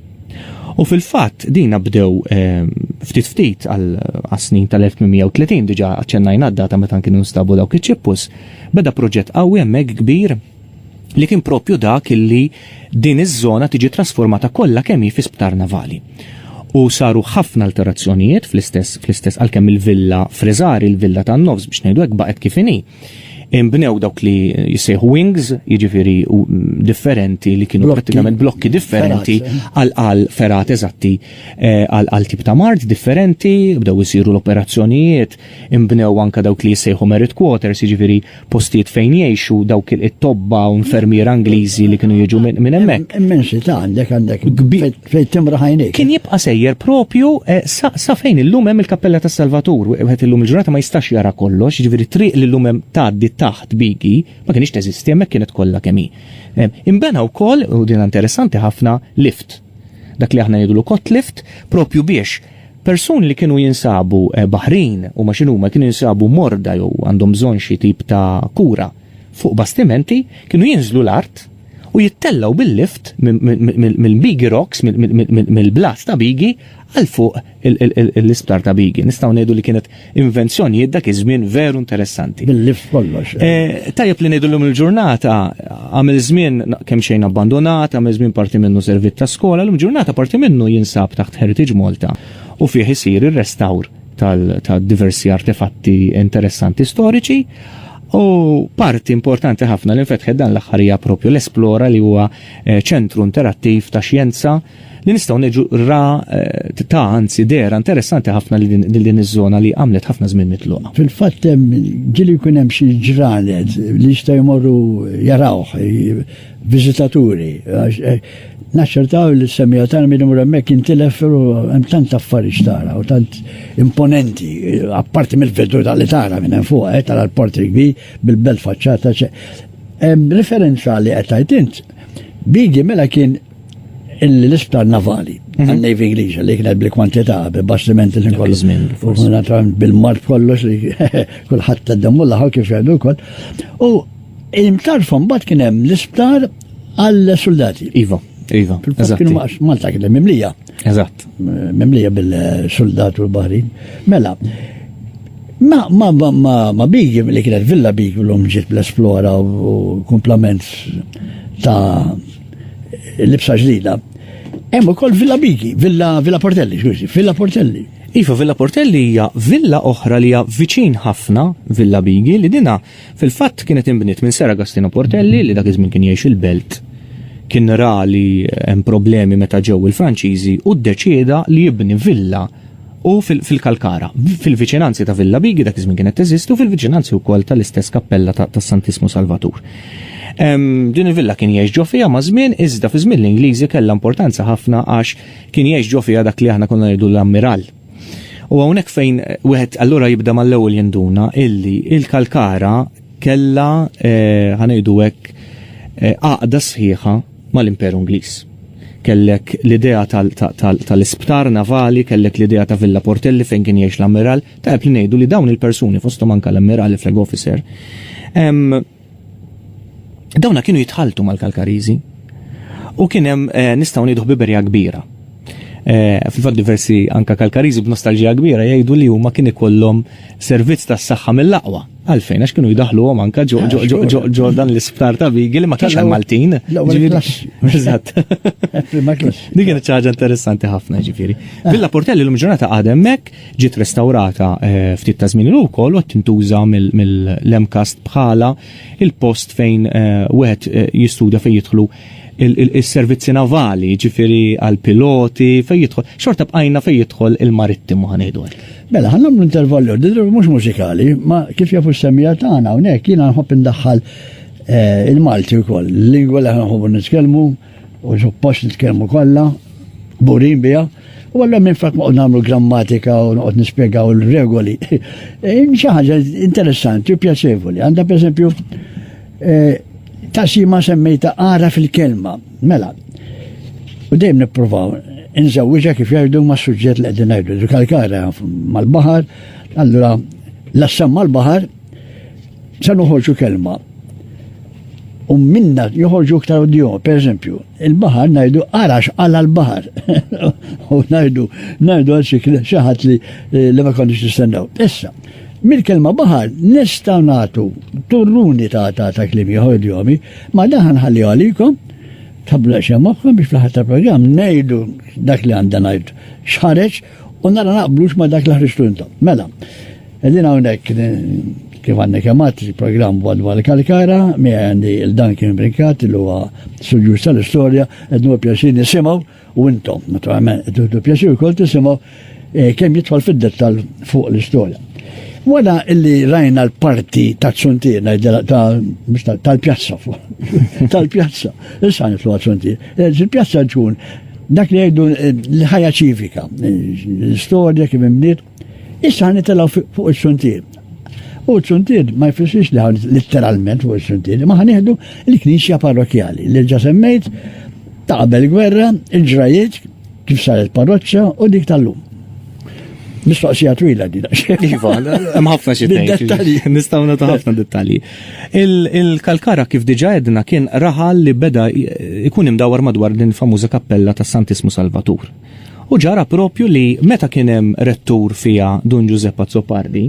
U fil-fatt dina bdew eh, ftit ftit għal snin tal-1830 diġa aċċennajna d-data meta kienu nstabu dawk iċ-ċippus, beda proġett qawwi hemmhekk kbir li kien proprju dak illi din iż-żona tiġi trasformata kollha kemm hi fi sptar navali. U saru ħafna alterazzjonijiet fl-istess fl-istess għalkemm il-villa Fresari, il-villa tan-nofs biex ngħidu hekk baqgħet kif inhi. Inbnew dawk li jissejħu wings, jiġifieri differenti li kienu prattikament blokki differenti għal għal ferat eżatti eh, għal għal tip ta' mart differenti, bdew isiru l-operazzjonijiet, inbnew anke dawk li jissejħu merit quarters, jiġifieri postijiet fejn jgħixu dawk it-tobba u infermiera Ingliżi li kienu jiġu minn hemmhekk. Immensità għandek għandek fejn timra ħajnik. Kien jibqa' sejjer propju eh, sa fejn illum hemm il-Kappella tas-Salvatur, wieħed illum il-ġurnata ma jistax jara kollox, ġifieri triq li llum hemm tgħaddi taħt bigi, ma kienx teżisti hemmhekk kienet kollha kemm hi. Eh, imbena wkoll, u din interessanti ħafna, lift. Dak li aħna ngħidulu kott lift, propju biex Persuni li kienu jinsabu eh, baħrin u ma xinuma kienu jinsabu morda jew għandhom bżonn xi tip ta' kura fuq bastimenti kienu jinżlu l-art u jittellaw bil-lift mill-Bigi Rocks, mill-blast ta' Bigi, għal fuq l-isptar ta' Bigi. Nistaw ngħidu li kienet invenzjonijiet dak iż-żmien veru interessanti. Bil-lif kollox. Eh. Eh, tajjeb li ngħidu llum il-ġurnata għamil żmien kemm xejn abbandonat, għamil żmien parti minnu servit ta' skola, llum ġurnata parti minnu jinsab taħt Heritage Malta u fih isir ir-restawr tal-diversi artefatti interessanti storiċi. U parti importanti ħafna li nfetħed dan l-aħħarija propju l-Esplora li huwa eh, ċentru interattiv ta' xjenza li nistgħu neġu ra eh, ta' anzi dera interessanti ħafna li din iż-żona li għamlet ħafna żmien mitluqa. Fil-fatt ġili jkun hemm xi ġranet li jistgħu jmorru jarawh viżitaturi eh, naċċertaw li s-semija tagħna minn imur hemmhekk intilef hemm tant affarijiet tara u tant imponenti, apparti mill-vedu tal tara minn hemm fuq, eh, tara l-port rigbi bil-belt faċċata. Referenza li qed int, Bigi mela kien l-isptar navali, mhm. għal-Navy Inglisa li kienet bil-kwantità, bil-bastimenti li kollu. U naturalment bil-mart kollox li kullħat t-demmu laħaw kif jgħidu kol. U il-mtarfom bat kienem l-isptar għal-soldati. Iva, iva. Kienu Malta kienem mimlija. Eżatt. Mimlija bil-soldat u l-bahrin. Mela, Ma, ma, ma, ma, ma bigi li kienet villa bigi l-om ġiet bl-esplora u komplement ta' Libsa ġdida. Hemm ukoll Villa Bigi, Villa Villa Portelli, x'għużi, Villa Portelli. Iva, Villa Portelli hija villa oħra li hija viċin ħafna Villa Bigi li dina fil-fatt kienet inbniet minn Sera Agostino Portelli li dak iż-żmien kien jgħix il-belt kien ra li hemm problemi meta ġew il-Franċiżi u ddeċieda li jibni villa u fil-Kalkara, fil-viċinanzi ta' Villa Bighi dak iż-żmien kienet teżisti u fil-viċinanzi wkoll tal-istess kappella tas-Santissmu Salvatur. Din il-villa kien jgħix ġo fiha ma' żmien iżda fi żmien l-Ingliżi kellha importanza ħafna għax kien jgħix ġo fiha dak li aħna konna ngħidu l-ammiral. U hawnhekk fejn wieħed allura jibda mal-ewwel jinduna illi il-Kalkara kellha eh, ħanejdu hekk eh, għaqda sħiħa mal-Imperu Ingliż. Kellek l-idea tal-isptar navali, kellek l-idea ta' Villa Portelli fejn kien jgħix l-Ammiral, tajjeb li ngħidu li dawn il-persuni fosthom anke l-Ammiral, il-Flag Officer, dawna kienu jitħalltu mal-Kalkariżi u kien hemm eh, nistgħu ngħidu ħbiberija kbira. Eh, fil-fatt diversi anka kalkariżi b'nostalġija kbira jgħidu li huma kien ikollhom servizz tas-saħħa mill-aqwa Għalfejn, għax kienu jidaħluhom anka ġo ah, ġo dan l-isptar ta' Bigi li ma kienx hemm Maltin. Eżatt. Din kienet ċaġa interessanti ħafna ġifieri. Ah. Villa Portelli l ġurnata għadem mek ġiet restaurata eh, ftit ta' żmien ukoll u tintuża mill-Lemkast bħala il-post fejn eh, wieħed eh, jistudja fejn jidħlu il-servizzi navali, ġifiri għal-piloti, fej jidħol, xorta bqajna fej jidħol il-marittimu ħanejdu għek. Mela, ħannam l-intervallu, d-dru mux mużikali, ma kif jafu s-semija tagħna hawnhekk jiena nħobb indaħħal eh, il-Malti wkoll, l-lingwa li nħobbu nitkellmu u suppost nitkellmu kollha, burin biha. U għallom minn frak maqod namlu grammatika u noqod nispiegaw il-regoli. Eh, xaħġa interessanti u pjaċevoli. Għanda per esempio, Ta' xi ma semmejta ara fil-kelma. Mela, u dejjem nippruvaw inżewwiġha kif jgħidu mas-suġġett li qegħdin ngħidu. Ġu kalkara mal-baħar, allura l-assam mal-baħar se noħorġu kelma. U minna joħorġu iktar u dihom, per eżempju, il-baħar ngħidu ara x'qala l-baħar. U ngħidu ngħidu għal xi ħadd li ma konniex nistennew. Issa, Mill-kelma baħar nistgħu nagħtu turruni ta' ta' ta' kliem ieħor idjomi, ma dan ħanħalliha għalikom, tħabbru daqsxejn moħħkom biex fl-aħħar tal-programm ngħidu dak li għandha ngħid x'ħareġ u nara naqblux ma' dak li ħriġtu intom. Mela, qegħdin hawnhekk kif għandna kemm għad il-programm Wadwa l-Kalkara, mi għandi il-dan kien brinkat li huwa suġġur tal-istorja, qed nħu pjaċir nisimgħu U intom, naturalment, tieħdu pjaċir ukoll tisimgħu eh, kemm jidħol fid-dettall fuq l-istorja. Wara illi rajna l-parti ta' ċuntina tal-pjazza tal-pjazza, issa nitlu ċuntina. Eh, il-pjazza ġun dak li jgħidu eh, l-ħajja ċivika, l-istorja kif imbniet, Issa ħan nitilgħu fuq is-suntier. U s-suntier ma jfissirx li ħan litteralment fuq is-suntier, ma ħan nieħdu l-knisja parrokjali li ġa semmejt ta' qabel gwerra, il-ġrajiet kif saret parroċċa u dik tal-lum. Mistoqsija twila di Iva, hemm ħafna xi Nistgħu nagħtu ħafna dettalji. Il-kalkara kif diġà edna kien raħal li beda ikun imdawar madwar din famuża kappella ta' Santismu Salvatur. U ġara proprju li meta kien hemm rettur fiha Dun Ġużepp Azzopardi,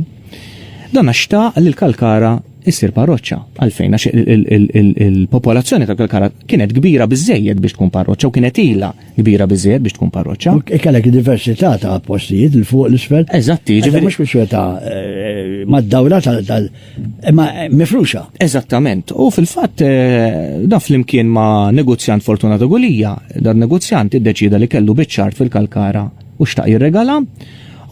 dan xtaq li l-Kalkara issir parroċċa. Għalfejn? Għax il-popolazzjoni ta' Kalkara kienet kbira biżejjed biex tkun parroċċa u kienet ilha kbira biżejjed biex tkun parroċċa. E kellek diversità ta' postijiet il fuq l-isfel. Eżatti, ġifieri. Mhux kwistjoni ta' eh, mad-dawra tal ma mifruxa. Eżattament. U fil-fatt eh, da flimkien ma' negozjant Fortunato Gulija, dan negozjant iddeċida li kellu biċċart fil-Kalkara u xtaq jirregala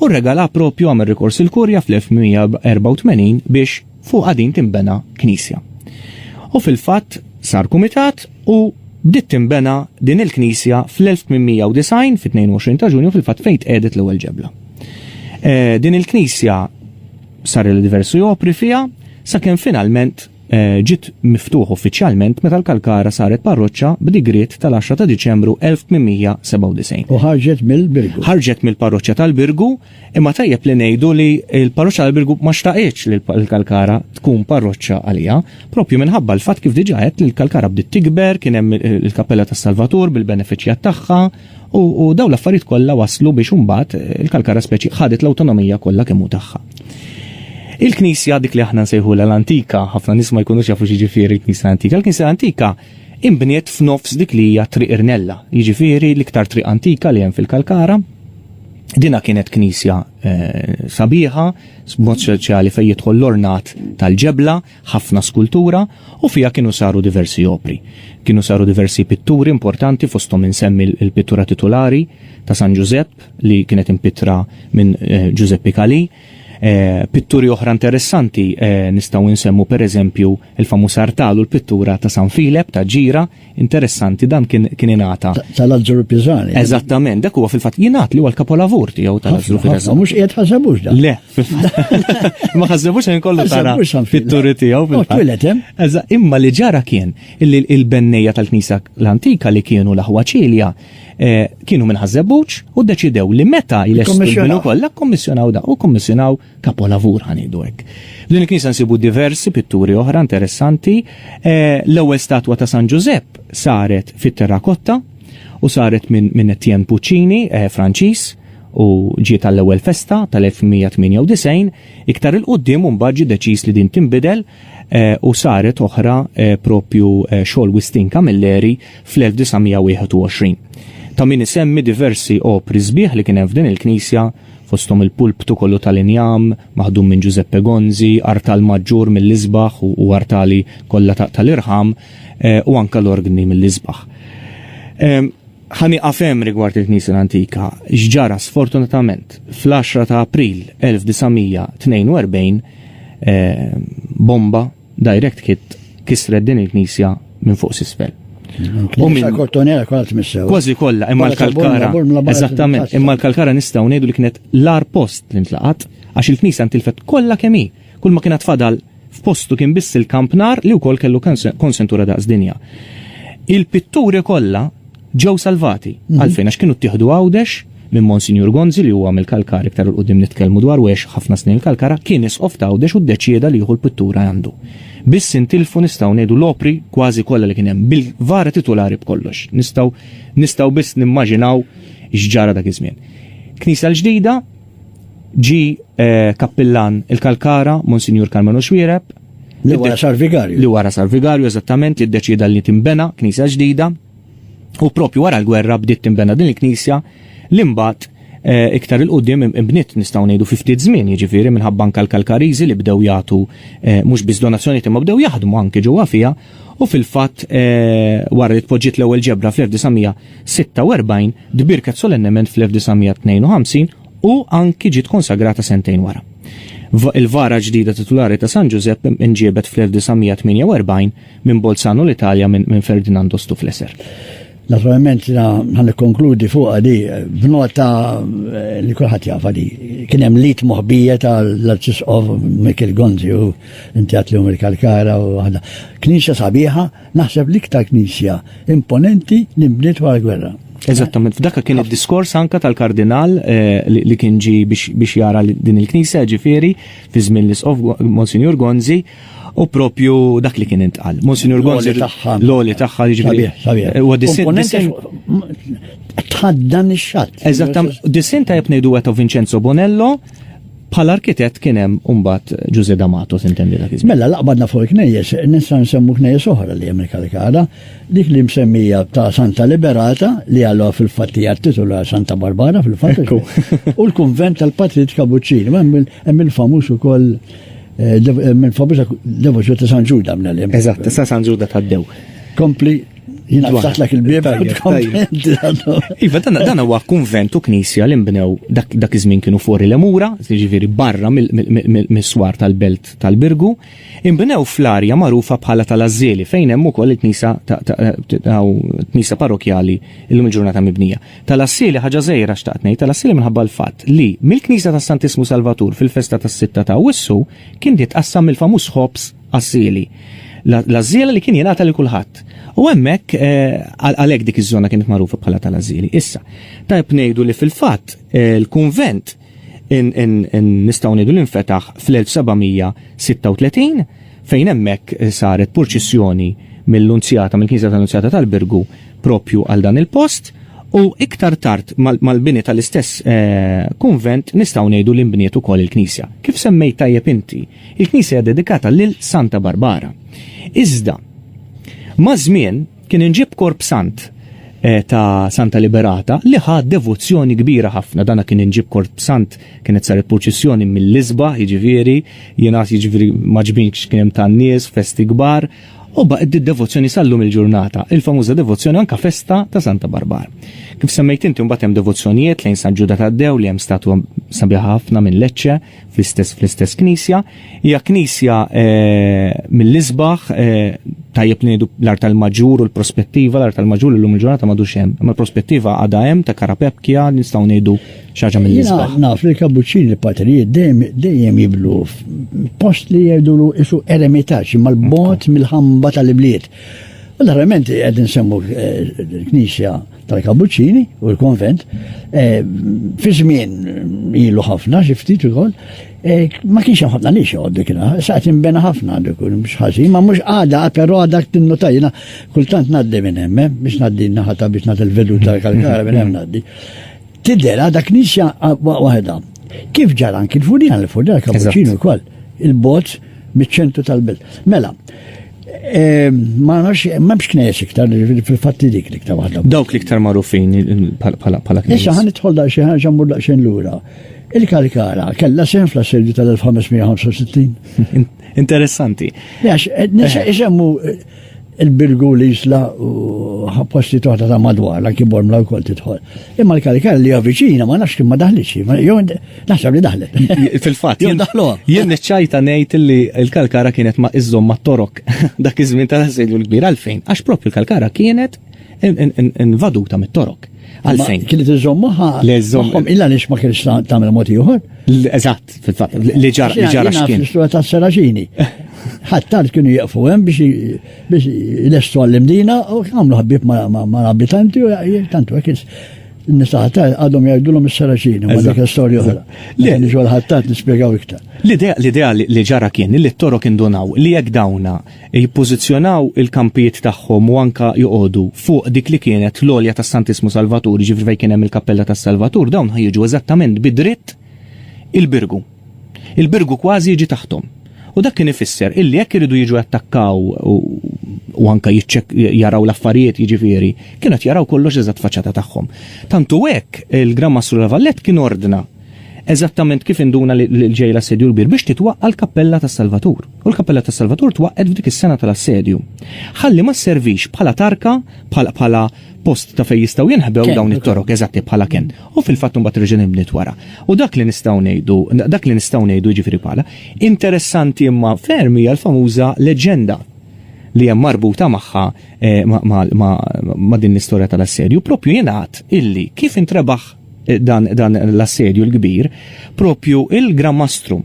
u regala propju għamil rikors il-Kurja fl-1984 biex fuq għadin timbena knisja. U fil-fatt sar kumitat u bdiet timbena din il-knisja fl-1890 fit-22 ta' ġunju fil-fatt fejt edet l-ewwel ġebla. Eh, din il-knisja Sar li diversi jopri fiha sakemm finalment eh, ġiet miftuħ uffiċjalment meta l-Kalkara saret parroċċa b'digriet tal-10 ta' Diċembru 1897. U ħarġet mill-Birgu. Ħarġet mill-parroċċa tal-Birgu, imma tajjeb li ngħidu li l-parroċċa tal-Birgu ma xtaqitx li l-Kalkara tkun parroċċa għalija, propju minħabba l-fatt kif diġà qed li l-Kalkara bdiet tikber, kien hemm il-Kappella tas-Salvatur bil-benefiċjat tagħha, U dawn l-affarijiet kollha waslu biex imbagħad il-Kalkara speċi ħadet l-awtonomija kollha kemm hu tagħha. Il-Knisja dik li aħna nsejħulha l-antika, ħafna nies ma jkunux jafu x'jiġifieri l-Knisja antika. Il-Knisja antika imbniet f'nofs dik li hija triq Irnella, jiġifieri l-iktar triq antika li hemm fil-Kalkara, Dina kienet knisja eh, sabiħa, b'mod speċjali fejn jidħol l-ornat tal-ġebla, ħafna skultura u fiha kienu saru diversi opri. Kienu saru diversi pitturi importanti fosthom insemmi l-pittura titulari ta' San Ġużepp li kienet impittra minn eh, Ġużeppi Kalì. Eh, pitturi oħra interessanti eh, nistgħu nsemmu pereżempju il-famuż artal u l-pittura ta' San Filep ta' Ġira Interessanti, dan kien kien ingħata. Tal-Azzuru Pisani. Eżattament, dak huwa fil-fatt jingħad li huwa l-kapolavur tiegħu tal-Azzuru Pisani. Mhux qiegħed ħasebux dan. Le, ma ħasebux hemm kollu tara fit-turi tiegħu fil-fatt. Eża, imma li ġara kien illi il-bennejja tal-Knisa l-Antika li kienu l-aħwa ċilja eh, kienu minn ħasebux u deċidew li meta jlessu kollha kommissjonaw da u kommissjonaw Kapolavur ħa ngħidu hekk. F'din il-knisja nsibu diversi pitturi oħra interessanti. Eh, l-ewwel statwa ta' San Ġużepp saret fit-terrakotta u saret minn min Etienne Puccini, eh, Franċiż, u ġiet għall-ewwel festa tal-1998, iktar il-qudiem u mbagħad ġie deċiż li din tinbidel eh, u saret oħra propju xogħol Wistin Camilleri fl-1921. Ta' min isemmi diversi opri sbieħ li kien hemm f'din il-knisja fosthom il-pulptu kollu tal-injam maħdum minn Ġużeppe Gonzi, artal maġġur mill-isbaħ u artali kollha tal-irħam u anke l-orgni mill-isbaħ. Ħa nieqaf hemm rigward il-Knisja l-Antika. X'ġara sfortunatament fl-10 ta' April 1942 bomba Direct Hit kisret din il-knisja minn fuq s'isfel. Kważi kollha imma l-kalkara. Eżattament, imma l-kalkara nistgħu ngħidu li kienet l-ar post li ntlaqat għax il-knisja ntilfet kollha kemm hi. Kull ma kienet fadal f'postu kien biss il-kampnar li wkoll kellu konsentura daqs dinja. Il-pitturi kollha Ġew salvati. Għalfejn? Għax kienu ttieħdu Għawdex minn Monsinjur Gonzi li huwa mill-Kalkar iktar 'il quddiem nitkellmu dwaru għex ħafna snin il-Kalkara, kien Isqof ta' Għawdex u ddeċieda li jieħu l-pittura għandu. Biss intilfu nistgħu ngħidu l-opri kważi kollha li kien hemm, bil-kvar titulari b'kollox. Nistgħu nistgħu biss nimmaġinaw x'ġara dak iż-żmien. Knisja l-ġdida ġi eh, kappillan il-Kalkara, Monsinjur Karmenu Xwiereb, Li wara sar vigarju. li wara sar vigarju eżattament li ddeċieda li timbena knisja ġdida U propju wara l-gwerra bdiet tinbena din il-knisja li mbagħad eh, iktar il-qudiem imbniet nistgħu ngħidu fi ftit żmien, jiġifieri minħabba anke l-Kalkariżi li bdew jagħtu eh, mhux biss donazzjonijiet imma bdew jaħdmu anke ġewwa fiha u fil-fatt eh, wara li tpoġġiet l-ewwel ġebra fl-1946 tbirket solennement fl-1952 u anki ġiet konsagrata sentejn wara. Il-vara ġdida titulari ta' San Ġużepp inġiebet fl-1948 Minn Bolzano l-Italja minn Ferdinando Stufleser. Naturalment jina ħan konkludi fuqa di b'nota eh, li kulħadd jafa di. Kien hemm lit moħbija tal-Arċisqof Michael Gonzi u inti għatlihom il-Kalkara u waħda. Knisja sabiħa, naħseb l-iktar knisja imponenti li mbniet wara l-gwerra. Eżattament, f'dakka kien id-diskors anka tal-kardinal eh, li kien ġi biex jara din il-knisja ġifieri fi żmien l-isqof Monsignor Gonzi U propju dak li kien intqal. Monsignor Gonzi tagħha. L-oli tagħha jiġifieri. Huwa disin. Tħaddan ix-xatt. Eżattam, disin tajjeb ngħidu għeto Vincenzo Bonello, bħal arkitett kien hemm umbat Ġuże D'Amato sintendi dak iż Mela laqbadna fuq il-knejjes, nista' nsemmu knejjes oħra li hemm il-Kalikara, dik li msemmija ta' Santa Liberata li għallu fil-fattija titula Santa Barbara fil-fatt. U l-kunvent tal-Patrit Kabuċċini, Hemm il-famuż ukoll minn famuża devozzjoni ta' San Ġuda minn hemm. Eżatt, ta' San Ġuda tad-dew. Kompli Naftaħlek il-bieb. Iva, dan dan huwa kunvent u knisja li nbnew dak iż-żmien kienu fuq il-lemura, jiġifieri barra mis-swar tal-belt tal-Birgu, inbnew fl-arja magħrufa bħala tal-Ażżieli fejn hemm ukoll il-knisja ta' knisja parrokjali illum il-ġurnata mibnija. Tal-Assili ħaġa żgħira xtaqt ngħid, tal-Assili minħabba l-fatt li mill-Knisja tas-Santissmu Salvatur fil-festa tas-Sitta ta' Awwissu kien jitqassam mill-famuż ħobż Assili. L-għażżiela li kien jingħata lil kulħadd. U hemmhekk eh, għalhekk dik iż-żona kienet magħrufa bħala tal-Assili. Issa, tajb ngħidu li fil-fatt eh, l-kunvent nistgħu ngħidu li nfetaħ fl-1736 fejn hemmhekk saret purċissjoni mill-Unzjata, mill-Knisja tal-Unzjata tal-Birgu propju għal dan il-post u iktar tard mal-bini tal-istess eh, kunvent nistgħu ngħidu li nbniet ukoll il-Knisja. Kif semmejt tajjeb inti, il-Knisja dedikata lil Santa Barbara. Iżda, ma' żmien Kien inġib korp sant eh, ta' Santa Liberata li ħa devozzjoni kbira ħafna. Dana kien inġib korp sant kienet saret purċissjoni mill-isba, jiġifieri, jiena jiġifieri maġbin kien hemm tan-nies, festi kbar, u baqgħet id-devozzjoni sallum il-ġurnata, il-famuża devozzjoni anka festa ta' Santa Barbar. Kif semmejt inti mbagħad hemm devozzjonijiet lejn San Ġuda tad-Dew li hemm statwa sabiħa ħafna minn Lecce fl-istess fl-istess knisja, Hija knisja mill-isbaħ, tajjeb li ngħidu l-art tal-maġur u l-prospettiva, l-art tal-maġur illum il-ġurnata m'għadux hemm. Imma l-prospettiva għadha hemm ta' Karapepkja nistgħu ngħidu xi ħaġa mill-isbaħ. Naf li l-kabuċċini l-patrijiet dejjem jiblu post li jgħidulu isu eremitaġġ mal-bot mill-ħamba tal-ibliet. U l-arrament għed nsemmu l-Knisja eh, tal-Kabuċini u l-konvent, eh, fi żmien ilu ħafna xiftit ukoll, Eh, ma kienx hemm ħafna nix joqgħod dik saqt inbena ħafna dik mhux ħażin, ma mhux għada però għadha tinnu tajjina kultant ngħaddi minn hemm eh, biex ngħaddi naħata biex nagħti l-vedu tal-kalkara minn hemm ngħaddi. Tidher għadha knisja ah, waħda. Kif ġara anki l-furjan l-furjan kapuċinu wkoll il-bozz miċ-ċentru tal-belt. Mela, eh, ma nafx, ma bx knes iktar, fil-fatti dik li iktar waħda. Dawk li iktar marufin pala knes. Issa ħan itħol da xi ħaġa mur da xejn lura. Il-Kalkara kellha sehem fl-assedju tal-1565. Interessanti. Għax, eh, isemmu eh, il-Birgu li jisla u ħapposti toħta ta' madwar, la kibor mla wkoll tidħol. Imma l-Kalkara li għaviċina ma nafx kien ma daħliċi, jew naħseb li daħlet. Fil-fatt, jien daħluha. Jien niċċajta ngħid li l-Kalkara kienet ma iżżomm ma' torok dak iż-żmien tal-assedju l-kbir għalfejn, għax propju l-Kalkara kienet invaduta mit-Torok. Għalfejn? Kien iżżomm maħħa. Le żomm. Illa nix ma kienx tagħmel mod ieħor. Eżatt, fil-fatt, li ġara li ġara x'kien. L-istrua ta' Seraġini. Ħattar kienu jieqfu hemm biex lestu għall-imdina u għamlu ħabib ma' abitanti u tantu hekk nisaħta għadhom jgħidulhom is-Seraġini, ma dik storja oħra. Li nġu l-ħattat nispjegaw iktar. L-idea li ġara kien li t-toro kien donaw li jekk dawna jippożizzjonaw il-kampijiet tagħhom u anke joqogħdu fuq dik li kienet l-għolja tas-Santissmu Salvatur, jiġifieri fejn kien hemm il-Kappella tas-Salvatur, dawn ħa jiġu eżattament bi dritt il-Birgu. Il-Birgu kważi jiġi taħthom. U dak kien ifisser illi jekk iridu jiġu jattakkaw u anke jaraw l-affarijiet jiġifieri, kienu qed jaraw kollox eżatt faċċata tagħhom. Tantu hekk il-Gran Mastru La Valette kien ordna eżattament kif induna li l-ġej l-assedju l-kbir biex titwaqqa l-Kappella tas-Salvatur. U l-Kappella tas-Salvatur twaqqet f'dik is-sena tal-assedju. Ħalli ma sservix bħala tarka, bħala post ta' fejn jistgħu jinħbew dawn it-torok eżatti bħala ken. U fil-fatt imbagħad reġa' nibniet wara. U dak li nistgħu ngħidu, dak li nistgħu ngħidu jiġifieri bħala, interessanti imma ferm hija l-famuża leġenda li hemm marbuta magħha eh, ma' din l-istorja tal-assedju, propju jingħad illi kif intrebaħ dan, dan l-assedju l-kbir, propju il-Gramastrum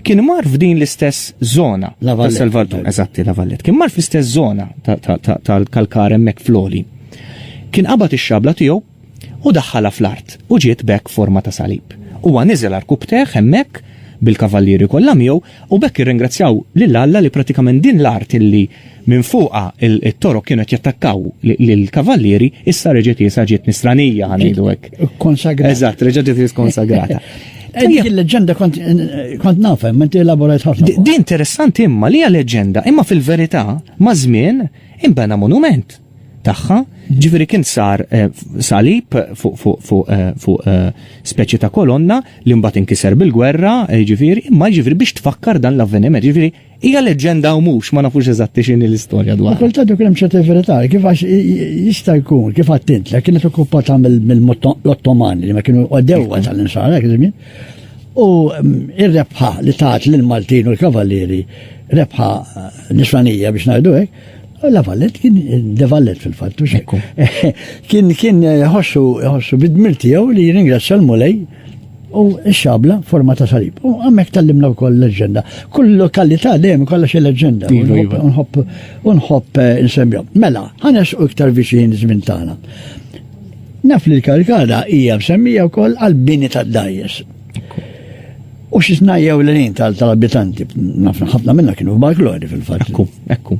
kien mar f'din l-istess zona ta' Salvatur, eżatti la Vallet, kien mar fl-istess zona tal-kalkar emmek floli. Kien qabad ix-xabla tiegħu u daħħala fl-art u ġiet bekk forma ta' salib. Huwa niżel arkubteħ hemmhekk bil-kavallieri kollha miegħu U b'hekk irringrazzjaw lil Alla li prattikament din l-art li minn fuqha t-Torok kienu qed jattakkaw lill-Kavallieri issa reġgħet iesha ġiet Nisranija, ħa ngħidu hekk. Konsagrata. Eżatt, reġgħet ġiet ikkonsagrata. Dik il-leġenda kont nafhem, inti elaborajt ħafna. Din interessanti imma li hija leġenda, imma fil-verità maż-żmien inbena monument. tagħha, ġifieri kien sar eh, salib fuq eh, eh, speċi ta' kolonna li mbagħad inkiser bil-gwerra, ġifieri, imma ġifieri biex tfakkar dan l-avveniment, ġifieri hija leġenda u mhux ma nafux eżatti x'in l-istorja dwar. Kulta dok hemm ċerta verità, kif għax jista' jkun, kif għattint, li kienet okkupata mill-Ottomani li ma kienu għaddewwa tal-insara, u mm, ir-rebħa li tat lill-Maltin u l-Kavalieri rebħa nisranija biex ngħidu hekk, La Vallet kien De Vallet fil-fatt. Kien kien ħossu ħossu bid-dmir tiegħu li jirringrazzja l-Mulej u x-xabla forma ta' salib. U għamek tal-limna wkoll leġenda. Kull lokalità dejjem kollha xi leġenda. Iva, iva. Unħobb unħobb eh, insemmihom. Mela, ħanes u iktar viċin żmien tagħna. Naf li l-karkada hija msemmija wkoll għall-bini tad-dajjes. U xi tnajjew l lin tal-abitanti, ħafna minna kienu f'Balklori fil-fatt. Ekku, ekku.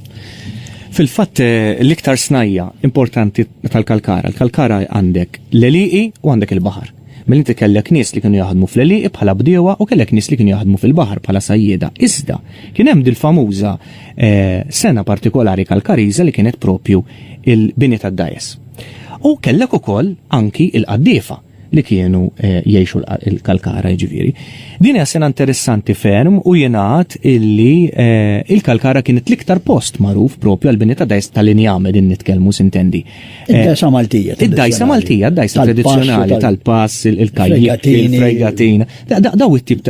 Fil-fatt eh, l-iktar snajja importanti tal-kalkara, l-kalkara għandek l-eliqi u għandek il-bahar. Mill inti kellek nies li kienu jaħdmu fl-eliqi bħala bdiewa u kellek nies li kienu jaħdmu fil-bahar bħala sajjeda. Iżda, kien hemm dil-famuża eh, sena partikolari kalkariza li kienet propju il-bini tad-dajes. U kellek ukoll anki il-qaddiefa li kienu eh, jiexu l-kalkara ġiviri. Din hija sena interessanti ferm u jenat illi eh, il-kalkara kienet l-iktar post magħruf propju għal-bini ta' dajs tal-injame din nitkellmu sintendi. Eh, id-dajsa Maltija. Id-dajsa Maltija, id-dajsa tradizzjonali tal-pass, il-kajjik, il-fregatina. Daw it-tip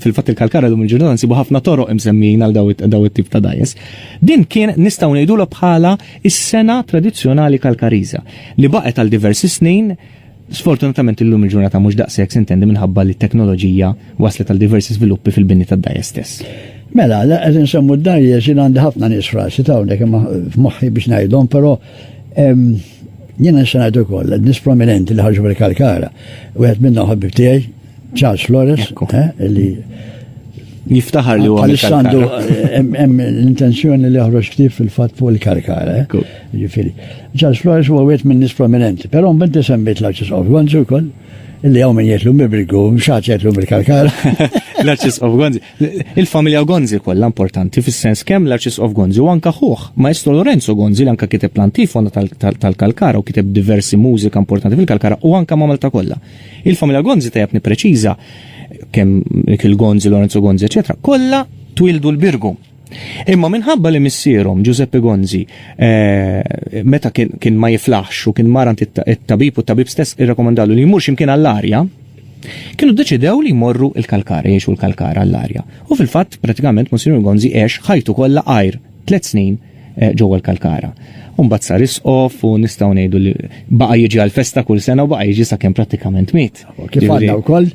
fil-fatt il-kalkara dum il-ġurnata nsibu ħafna toroq imsemmin għal daw it-tip ta' dajs. Din kien nistgħu ngħidulha bħala is-sena tradizzjonali kalkariża li baqgħet għal diversi snin Sfortunatament illum il-ġurnata mhux daqshekk sintendi minħabba li t-teknoloġija wasslet għal diversi żviluppi fil-bini tad-dgħajjes stess. Mela, qed insemmu d-dgħajjes, jien għandi ħafna nies f'rasi ta' hawnhekk imma f'moħħi biex ngħidhom, però jiena nista' ngħid ukoll nies prominenti li ħarġu mill-Kalkara. Wieħed minnhom ħabib tiegħi, Charles Flores, eh, li jiftaħar li huwa għandu hemm l-intenzjoni li joħroġ ktif fil-fatt fuq il-karkara. Eh? Ġifieri. Charles Flores huwa wieħed minn nies prominenti, però mbinti semmejt l-Arċis of Gonzi wkoll illi għaw minn jgħetlu mibrigu, mxaċ jgħetlu mill-karkar. L-arċis of Gonzi. Il-familja Gonzi kollha importanti fis-sens kemm l-arċis of Gonzi u anka ħuħ. Maestro Lorenzo Gonzi l anka kiteb l-antifona tal-kalkara u kiteb diversi mużika importanti fil-kalkara u anka mamel ta' kollha. Il-familja Gonzi tajab nipreċiża kemm Mikil Gonzi, Lorenzo Gonzi, eċetera, kollha twildu l-Birgu. Imma minħabba li missierhom Giuseppe Gonzi eh, meta kien ma jiflaħx u kien marant it-tabib u t-tabib stess irrakomandalu li jmurx imkien għall-arja, kienu deċidew li jmorru il-kalkara, jiexu l-kalkara għall-arja. U fil-fatt, pratikament, Monsignor Gonzi għex ħajtu kollha għajr Tliet snin ġewwa l-Kalkara. U mbagħad sar isqof u nistgħu ngħidu li baqa' jiġi għall-festa kull sena u baqa' jiġi sakemm prattikament miet. Kif għandna wkoll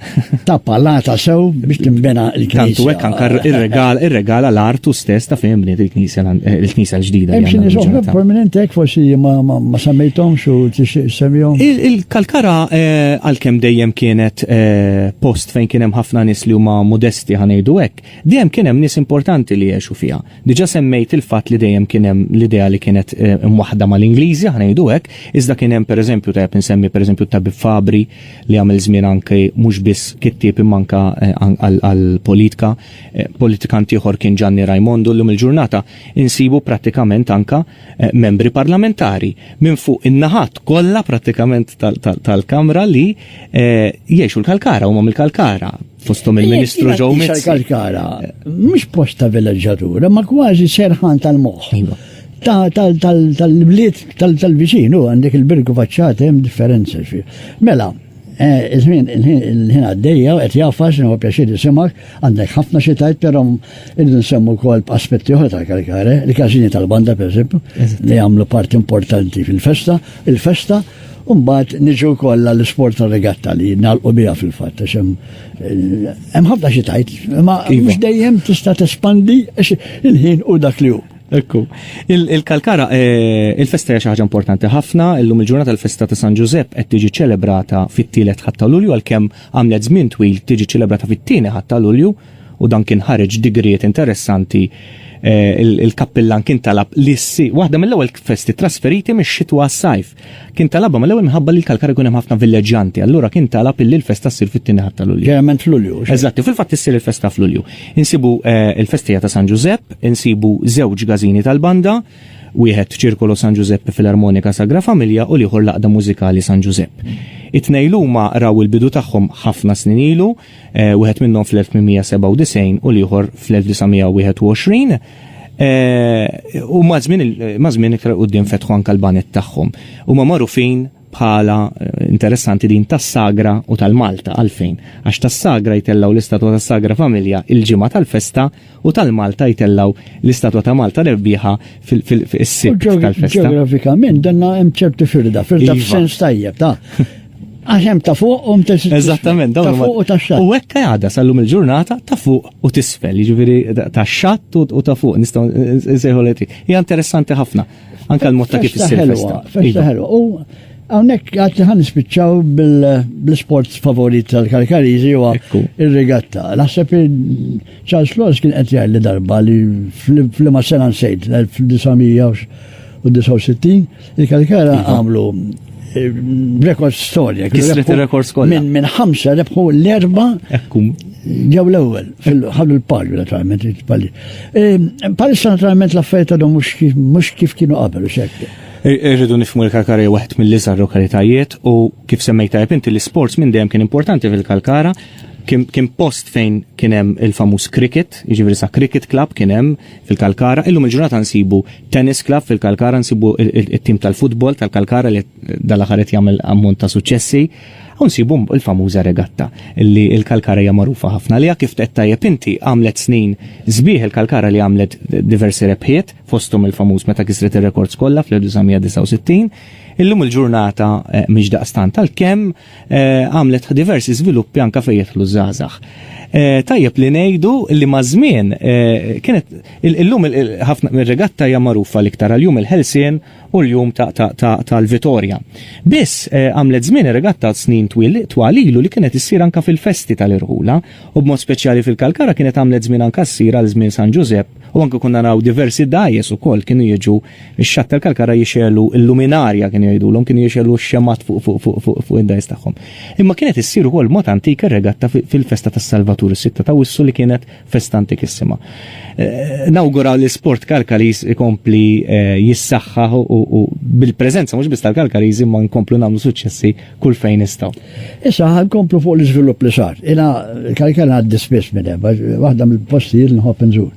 ta' palata sew biex tinbena l-knisja. Tantu hekk anke ir-regal ir-regala l-artu stess ta' fejn bniet il-knisja l-knisja l-ġdida. Hemm xi nies oħra prominenti hekk forsi ma semmejthomx u tixtieq semmihom. Il-Kalkara għalkemm dejjem kienet post fejn kien hemm ħafna nies li huma modesti ħa ngħidu hekk, Dejjem kien hemm nies importanti li għexu fiha. Diġà semmejt il-fatt li dejjem kien hemm l-idea li kienet imwaħħda mal-Ingliżi, aħna ngħidu hekk, iżda kien hemm pereżempju tajjeb insemmi pereżempju t-tabib Fabri li għamel żmien anki mhux biss kittieb imma anke għall-politika, politikant ieħor kien Ġanni Rajmondu, illum il-ġurnata insibu prattikament anke membri parlamentari minn fuq in-naħat kollha prattikament tal-Kamra li jgħixu l-Kalkara, huma mill-Kalkara. fostom il-Ministru Joe Mizzi. Mizzi. Kalkara, mhux post ta' villaġġatura, ma kważi serħan tal-moħħ. Iva. Tal-bliet tal-viċin, u għandek il-birgu faċċati hemm differenza xi. Mela, eh, il-ħin il-ħin għaddejja, qed jaffas, huwa pjaċir jisimak, għandek ħafna xi tajt, però irridu nsemmu wkoll aspetti oħra tal-kalkare, li każini tal-banda pereżempju, li jagħmlu parti importanti fil-festa, il-festa, il festa U mbagħad niġu wkoll għall-isport ta' regatta li nagħlqu biha fil-fatt għax hemm eh, hemm ħafna xi tajt, imma iva. mhux dejjem tista' tespandi għax il-ħin u dak li hu. Ekku. Il-kalkara, eh, il-festa hija xi ħaġa importanti ħafna, illum il-ġurnata l-festa ta' San Ġużepp qed tiġi ċelebrata fit-tielet ħatta Lulju għalkemm għamlet żmien twil tiġi ċelebrata fit-tieni ħatta Lulju. u dan kien ħareġ digriet interessanti il-kappillan kien talab li ssi waħda mill-ewwel festi trasferiti mix-xitwa għas-sajf. Kien talabha mill-ewwel minħabba li l-Kalkar ikun hemm ħafna villeġġanti, allura kien talab illi l-festa ssir fit-tieni ħadd ta' Lulju. Ġeneralment f'Lulju. Eżatti, fil-fatt issir il-festa f'Lulju. Insibu il-festija ta' San Ġużepp, insibu żewġ gażini tal-banda, wieħed Ċirkolo San Ġużepp Filarmonika Sagra Familja u l-ieħor l-Għaqda Mużikali San Ġużepp. It-tnejn huma raw il-bidu tagħhom ħafna snin ilu, wieħed minnhom fl-1897 u l-ieħor fl-1921, u maż-żmien iktar il quddiem fetħu anke l-banet tagħhom. Huma magħrufin bħala eh, interessanti din tas-sagra u tal-Malta għalfejn. Għax tas-sagra jtellgħu l-istatwa tas-sagra familja il-ġimgħa tal-festa u tal-Malta jtellgħu l-istatwa ta' Malta rebbieħa fis-Sibt tal-festa. Ġeografikament danna hemm ċerti firda, firda iva. f'sens tajjeb ta' Għax hemm ta' fuq u tisfel. Eżattament, dawn fuq u ta' xatt. U hekk għada sallum il-ġurnata ta' fuq u tisfel, jiġifieri ta' xatt u ta' fuq nistgħu nsejħu Hija interessanti ħafna. Anka l-mod ta' kif issir festa. Festa ħelwa. Iva. U hawnhekk għad ħan nispiċċaw bl-sport favorit tal-Karkariżi huwa ir-regatta. Naħseb Charles Laws kien qed jgħid li darba li fl-ma sena nsejt l-1969 il-Karkara iva. għamlu eh, rekord storja. Kisret il-rekord skolla. Minn min ħamsa rebħu l-erba ġew l-ewwel fil-ħadu l-palju naturalment il-palju. Ehm, palissa naturalment l-affarijiet għadhom mhux kif kienu qabel u xekk. Irridu nifmu l-kalkara waħed mill-iżgħar lokalitajiet u kif semmejta inti l-isports minn dejjem kien importanti fil-kalkara kien post fejn kien hemm il-famuż cricket, jiġifieri sa cricket club kien hemm fil-Kalkara, illum il-ġurnata nsibu tennis club fil-Kalkara, nsibu it-tim tal-futbol tal-Kalkara li dal-aħħar qed jagħmel ammont ta' suċċessi. Hawn nsibu l-famuża regatta li l-Kalkara hija magħrufa ħafna għaliha kif tgħid tajjeb inti għamlet snin sbieħ il-Kalkara li għamlet diversi rebħiet fosthom il-famuż meta kisret ir-rekords kollha fl-1969. Illum il-ġurnata mhix daqstant għalkemm għamlet diversi żviluppi anke fejn jidħlu żgħażagħ. Tajjeb li ngħidu li maż-żmien kienet illum ħafna mir-regatta hija magħrufa l-iktar għal jum il-ħelsien u l-jum tal-vitorja. Biss, eh, għamlet żmien ir-regatta snin twil twal ilu li kienet issir anka fil-festi tal-irħula u b'mod speċjali fil-Kalkara kienet għamlet żmien anka ssir għal żmien San Ġużepp u anka kunna naraw diversi dajes ukoll kienu jiġu x-xatt tal-Kalkara jixelu l-luminarja kienu jgħidulhom kienu jixelu x-xemat fuq fuq fuq fuq fuq id-dajes tagħhom. Imma kienet issir ukoll mod antik ir-regatta fil-festa tas-Salvatur is-sitta ta' wissu li kienet festa antikissima. Eh, nawguraw li sport kalkaris ikompli eh, jissaxħa u bil-prezenza mhux biss tal-kalkaris imma nkomplu nagħmlu suċċessi kull fejn nistgħu. Issa nkomplu fuq l-iżvilupp li sar. Ina kalkar għaddi spiss minn hemm, waħda mill-postijiet nħobb nżur.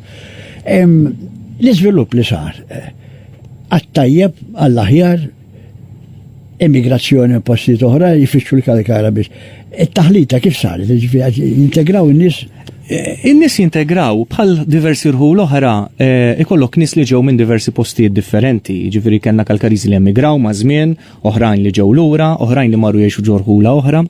L-iżvilupp li sar eh, għattajjeb għall-aħjar immigrazzjoni u postijiet oħra jfittxu l-kalkara biex. It-taħlita kif saret, ġifieri jintegraw in-nies eh, In-nies jintegraw bħal diversi rħul oħra eh, ikollok nies li ġew minn diversi postijiet differenti, ġifieri kellna kalkariżi li emigraw ma' żmien, oħrajn li ġew lura, oħrajn li marru jgħixu ġorħula oħra.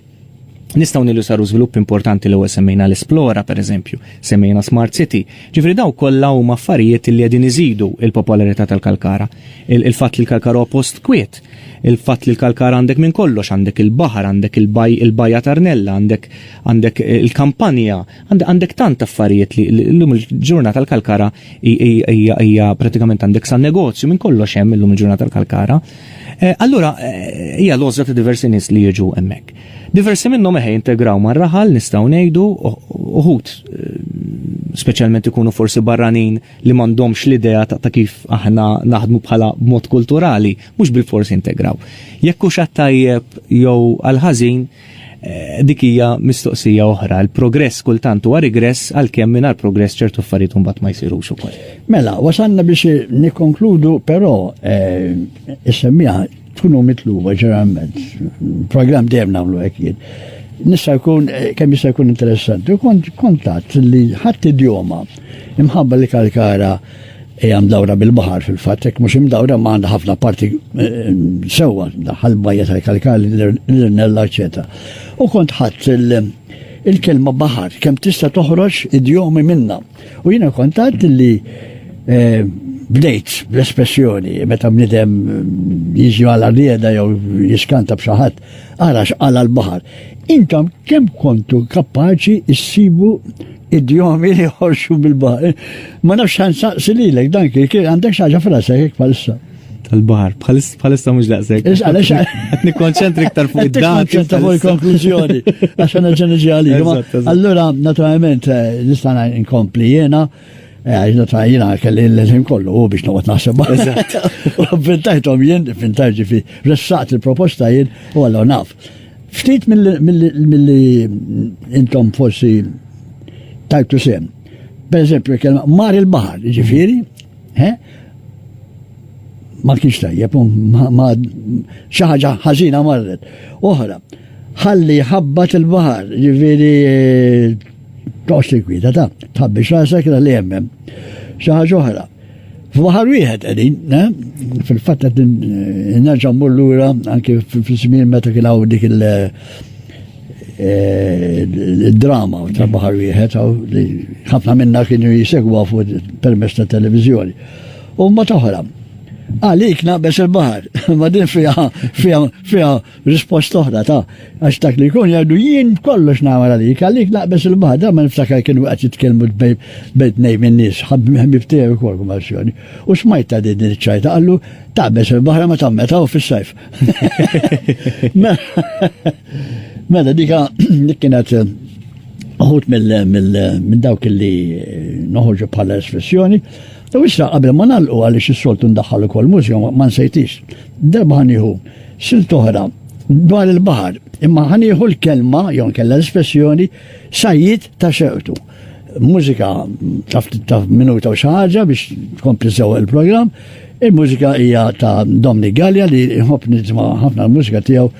Nistaw nillu saru żvilupp importanti li semmejna l-Esplora, per eżempju, semmejna Smart City, ġifri daw kollha huma affarijiet li qegħdin iżidu il-popolarità tal-Kalkara. Il-fatt li l-Kalkara huwa post kwiet, il-fatt li l-Kalkara għandek minn kollox, għandek il-baħar, għandek il-baj il-bajja Tarnella, għandek għandek il-kampanja, għandek tant affarijiet li l-lum il-ġurnata l-Kalkara hija pratikament għandek sa negozju minn kollox hemm illum il-ġurnata tal-Kalkara. Eh, allura eh, hija lożra ta' diversi nies li jiġu hemmhekk. Diversi minnhom eħe integraw mar-raħal nistgħu ngħidu uħud eh, speċjalment ikunu forsi barranin li m'għandhomx l-idea ta' kif aħna naħdmu bħala mod kulturali, mhux bil-forsi integraw. Jekk hux tajjeb jew għal-ħażin, Dik hija mistoqsija oħra, il-progress kultant huwa rigress għalkemm mingħajr progress ċertu affarijiet mbagħad ma jsirux ukoll. Mela, wasalna biex nikkonkludu però eh, issemmiha tkunu mitluba ġeneralment. Programm dejjem nagħmlu hekk jien. Nista' jkun eh, kemm jista' jkun interessanti. Kont kontatt li ħadd idjoma imħabba li kalkara Hija mdawra bil-baħar fil-fatt, hekk mhux imdawra ma għandha ħafna parti sewwa daħħal bajja tal-kalkali, l-irnella, eċetera. U kont ħadd il-kelma baħar kemm tista' toħroġ idjomi minna. U jiena kont għad li eh, bdejt bl-espressjoni meta bnidem jiġi għal rieda jew jiskanta b'xi ħadd Ara x'qala l-baħar. Intom kemm kontu kapaċi issibu idjomi li ħorxu bil-baħar. Ma nafx ħan saqsi lilek dan kien għandek xaġa frasek hekk bħalissa. Tal-baħar, bħalissa mhux daqshekk. Issa għaliex qed nikkonċentri iktar fuq id-dan. Ċenta fuq il-konklużjoni għax għandna ġenġi għalik. Allura naturalment eh, nista' inkompli jiena Għajna ta' jina kelli l-leżin kollu u biex noqgħod naħseb. Eżatt. Avventajthom jien, fintar ġifi, ressaqt il-proposta jien u għallu naf. Ftit mill-li intom forsi tajtu sem. Per eżempju, kelma mar il-bahar, ġifiri, ma kienx tajjeb, ma xaħġa ħażina marret. Oħra, ħalli ħabbat il-bahar, ġifiri Toqgħodx tinkwiteta, tħabbix rasek li hemm xi ħaġa oħra. F'baħar wieħed qegħdin, eh? fil-fatt qed nerġa' mmur lura anke fil-żmien meta kien hawn dik il- Eh, drama ta' baħar wieħed li ħafna minna kienu jisegwa fuq permess ta' televizjoni. U ma toħra. Għalik naqbes il-baħar, ma din fija fija fija Risposta oħra ta' għax dak li jkun jgħidu jien kollox nagħmel għalik, għalik naqbeż il-baħar, dan ma niftakar kienu qed jitkellmu bejn nej minn nies, ħabib tiegħi wkoll kummarsjoni. U smajt ta' din iċ-ċajta qallu taqbeż il-baħar ma tammeta u fis-sajf. Mela dika dik kienet eh, uħut minn dawk li eh, noħorġu bħala espressjoni, U issa qabel ma nagħlqu għaliex is-soltu ndaħħal ukoll mużika ma nsejtix. Darba ħanieħu silt oħra dwar il-baħar, imma ħanieħu l-kelma jew nkella l-espressjoni sajjid ta' xewtu. Mużika taf taf minuta u xi ħaġa biex tkompli sew il-programm. Il-mużika hija ta' Domni Gallia li nħobb nisma' ħafna l-mużika tiegħu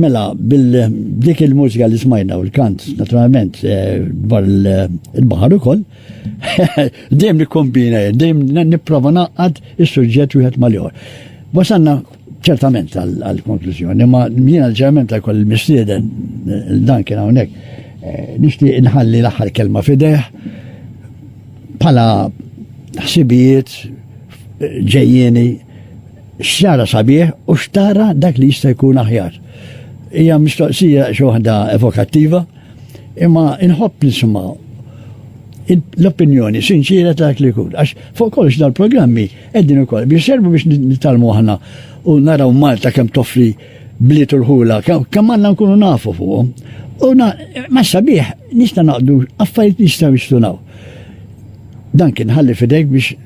Mela, bil-dik il-mużika li smajna u l-kant, naturalment, eh, bar il-bahar ukoll, dejjem nikkombina, dejjem nipprova naqqad is-suġġett wieħed mal-ieħor. Wasanna ċertament għal-konklużjoni, ma mjien għal-ġerment ta' koll mistieden dan kien hawnhekk. Eh, nixtieq inħalli l-aħħar kelma fideħ bħala ħsibijiet eh, ġejjeni xara sabiħ u xtara dak li jista' jkun aħjar. Hija mistoqsija xi waħda evokattiva, imma inħobb nisimgħu l-opinjoni sinċira ta' dak li jkun. Għax fuq kollox dal-programmi Qegħdin ukoll biex servu biex nitgħallmu aħna u naraw Malta kemm toffri bliet u l-ħula, kemm għandna nkunu nafu fuqhom. U ma sabiħ nista' naqdu affarijiet nistgħu jistunaw. Dan kien ħalli fidejk biex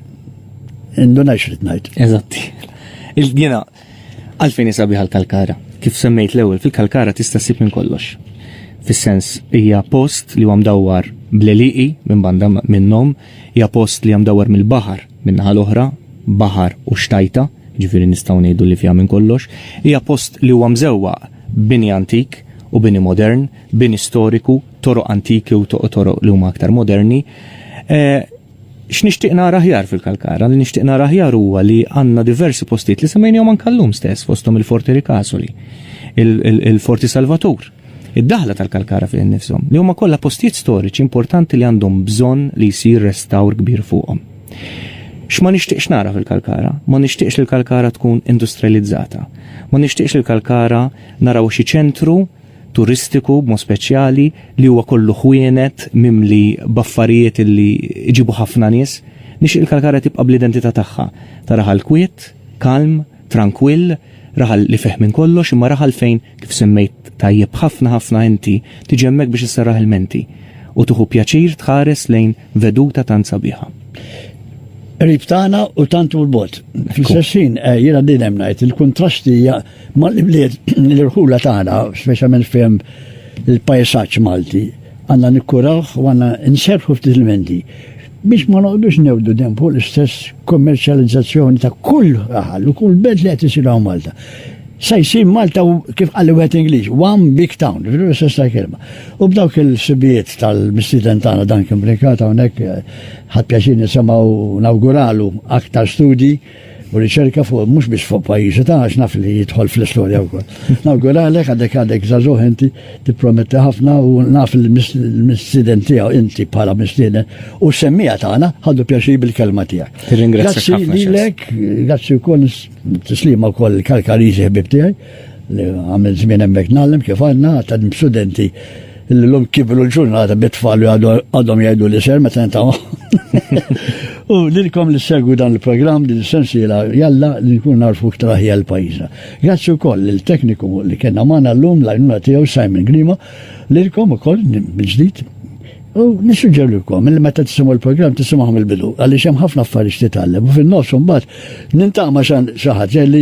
indunajx li tnajt. Eżatti. Il-dina, għalfejn sabiħ għal-kalkara. Kif semmejt l-ewwel, fil-kalkara tista' ssib minn kollox. Fis-sens hija post li huwa mdawwar bleliqi minn banda minnhom Hija post li hija mdawwar mill-baħar, min-naħa l-oħra, baħar u xtajta, jiġifieri nistgħu ngħidu li fiha minn kollox. Hija post li huwa mżewwaq b'bini antik u bini modern, bini storiku, toroq antiki u toroq li huma aktar moderni. X'nixtieq nara aħjar fil-Kalkara? Li nixtieq nara aħjar huwa li għandna diversi postijiet li semmejnihom anke llum stess fosthom il-Forti Ricasoli, il-Forti Salvatur, Id-daħla tal-Kalkara fih innifshom, li huma kollha postijiet storiċi importanti li għandhom bżonn li jsir restawr kbir fuqhom. X'ma nixtieqx nara fil-Kalkara? Ma nixtieqx li l-Kalkara tkun industrializzata. Ma nixtieqx li l-Kalkara narawha xi ċentru turistiku b'mod speċjali li huwa kollu ħwienet mimli b'affarijiet li jġibu ħafna nies. Nixtieq li l-Kalkara tibqa' bl-identità tagħha, taraha l-kwiet, kalm, Trankwill, raħal li fih minn kollox imma raħal fejn, kif semmejt tajjeb ħafna ħafna inti, tiġi hemmhekk biex isserraħ il-menti u tieħu pjaċir tħares lejn veduta tant sabiħa. Qrib tagħna u tant hu l-bogħod. Fl-istess ħin eh, jiena din hemm ngħid il-kuntrasti hija mal-ibliet l-irħula tagħna, speċjalment fejn il-pajsaġġ Malti għandna nikkurawh u għandna nserħu ftit il-menti. Biex ma noqgħdux ngħewdu dejjem fuq l-istess kummerċjalizzazzjoni ta' kull raħal u kull belt li qed isir hawn Malta. Se jsir Malta kif qal wieħed Ingliż, one big town, veru l-istess ta' kelma. U b'dawk il-sibijiet tal-mistieden tagħna dan kien blinkat hawnhekk ħadd pjaċir nisimgħu nawguralu aktar studji u riċerka fuq mhux biex fuq pajjiżi ta' għax naf li jidħol fl-istorja wkoll. Nawguralek għadek għadek żagħżugħ inti tipprometti ħafna u naf il-mistieden tiegħu inti bħala mistieden u semmija tagħna ħaddu pjaċi bil-kelma tiegħek. Grazzi lilek, grazzi wkoll tislima wkoll il-Kalkariżi ħbib tiegħi. Li għamil żmien hemmhekk nagħlem kif għandna għadha studenti li l-lum kibru l-ġurnata bit-tfal li għadhom jgħidu li ser meta ta' U lilkom li segwi dan il-programm din sensiela jalla li nkun narfu ktar ħjel pajjiżna. Grazzi wkoll il-tekniku li kellna magħna llum l-għajnuna tiegħu Simon Grima lilkom ukoll mill-ġdid U nissuġġerlikom li meta tisimgħu l-programm tisimgħu mill-bidu għaliex hemm ħafna affarijiet titgħallem u fin-nofs imbagħad nintaqma xan xi ħaġa li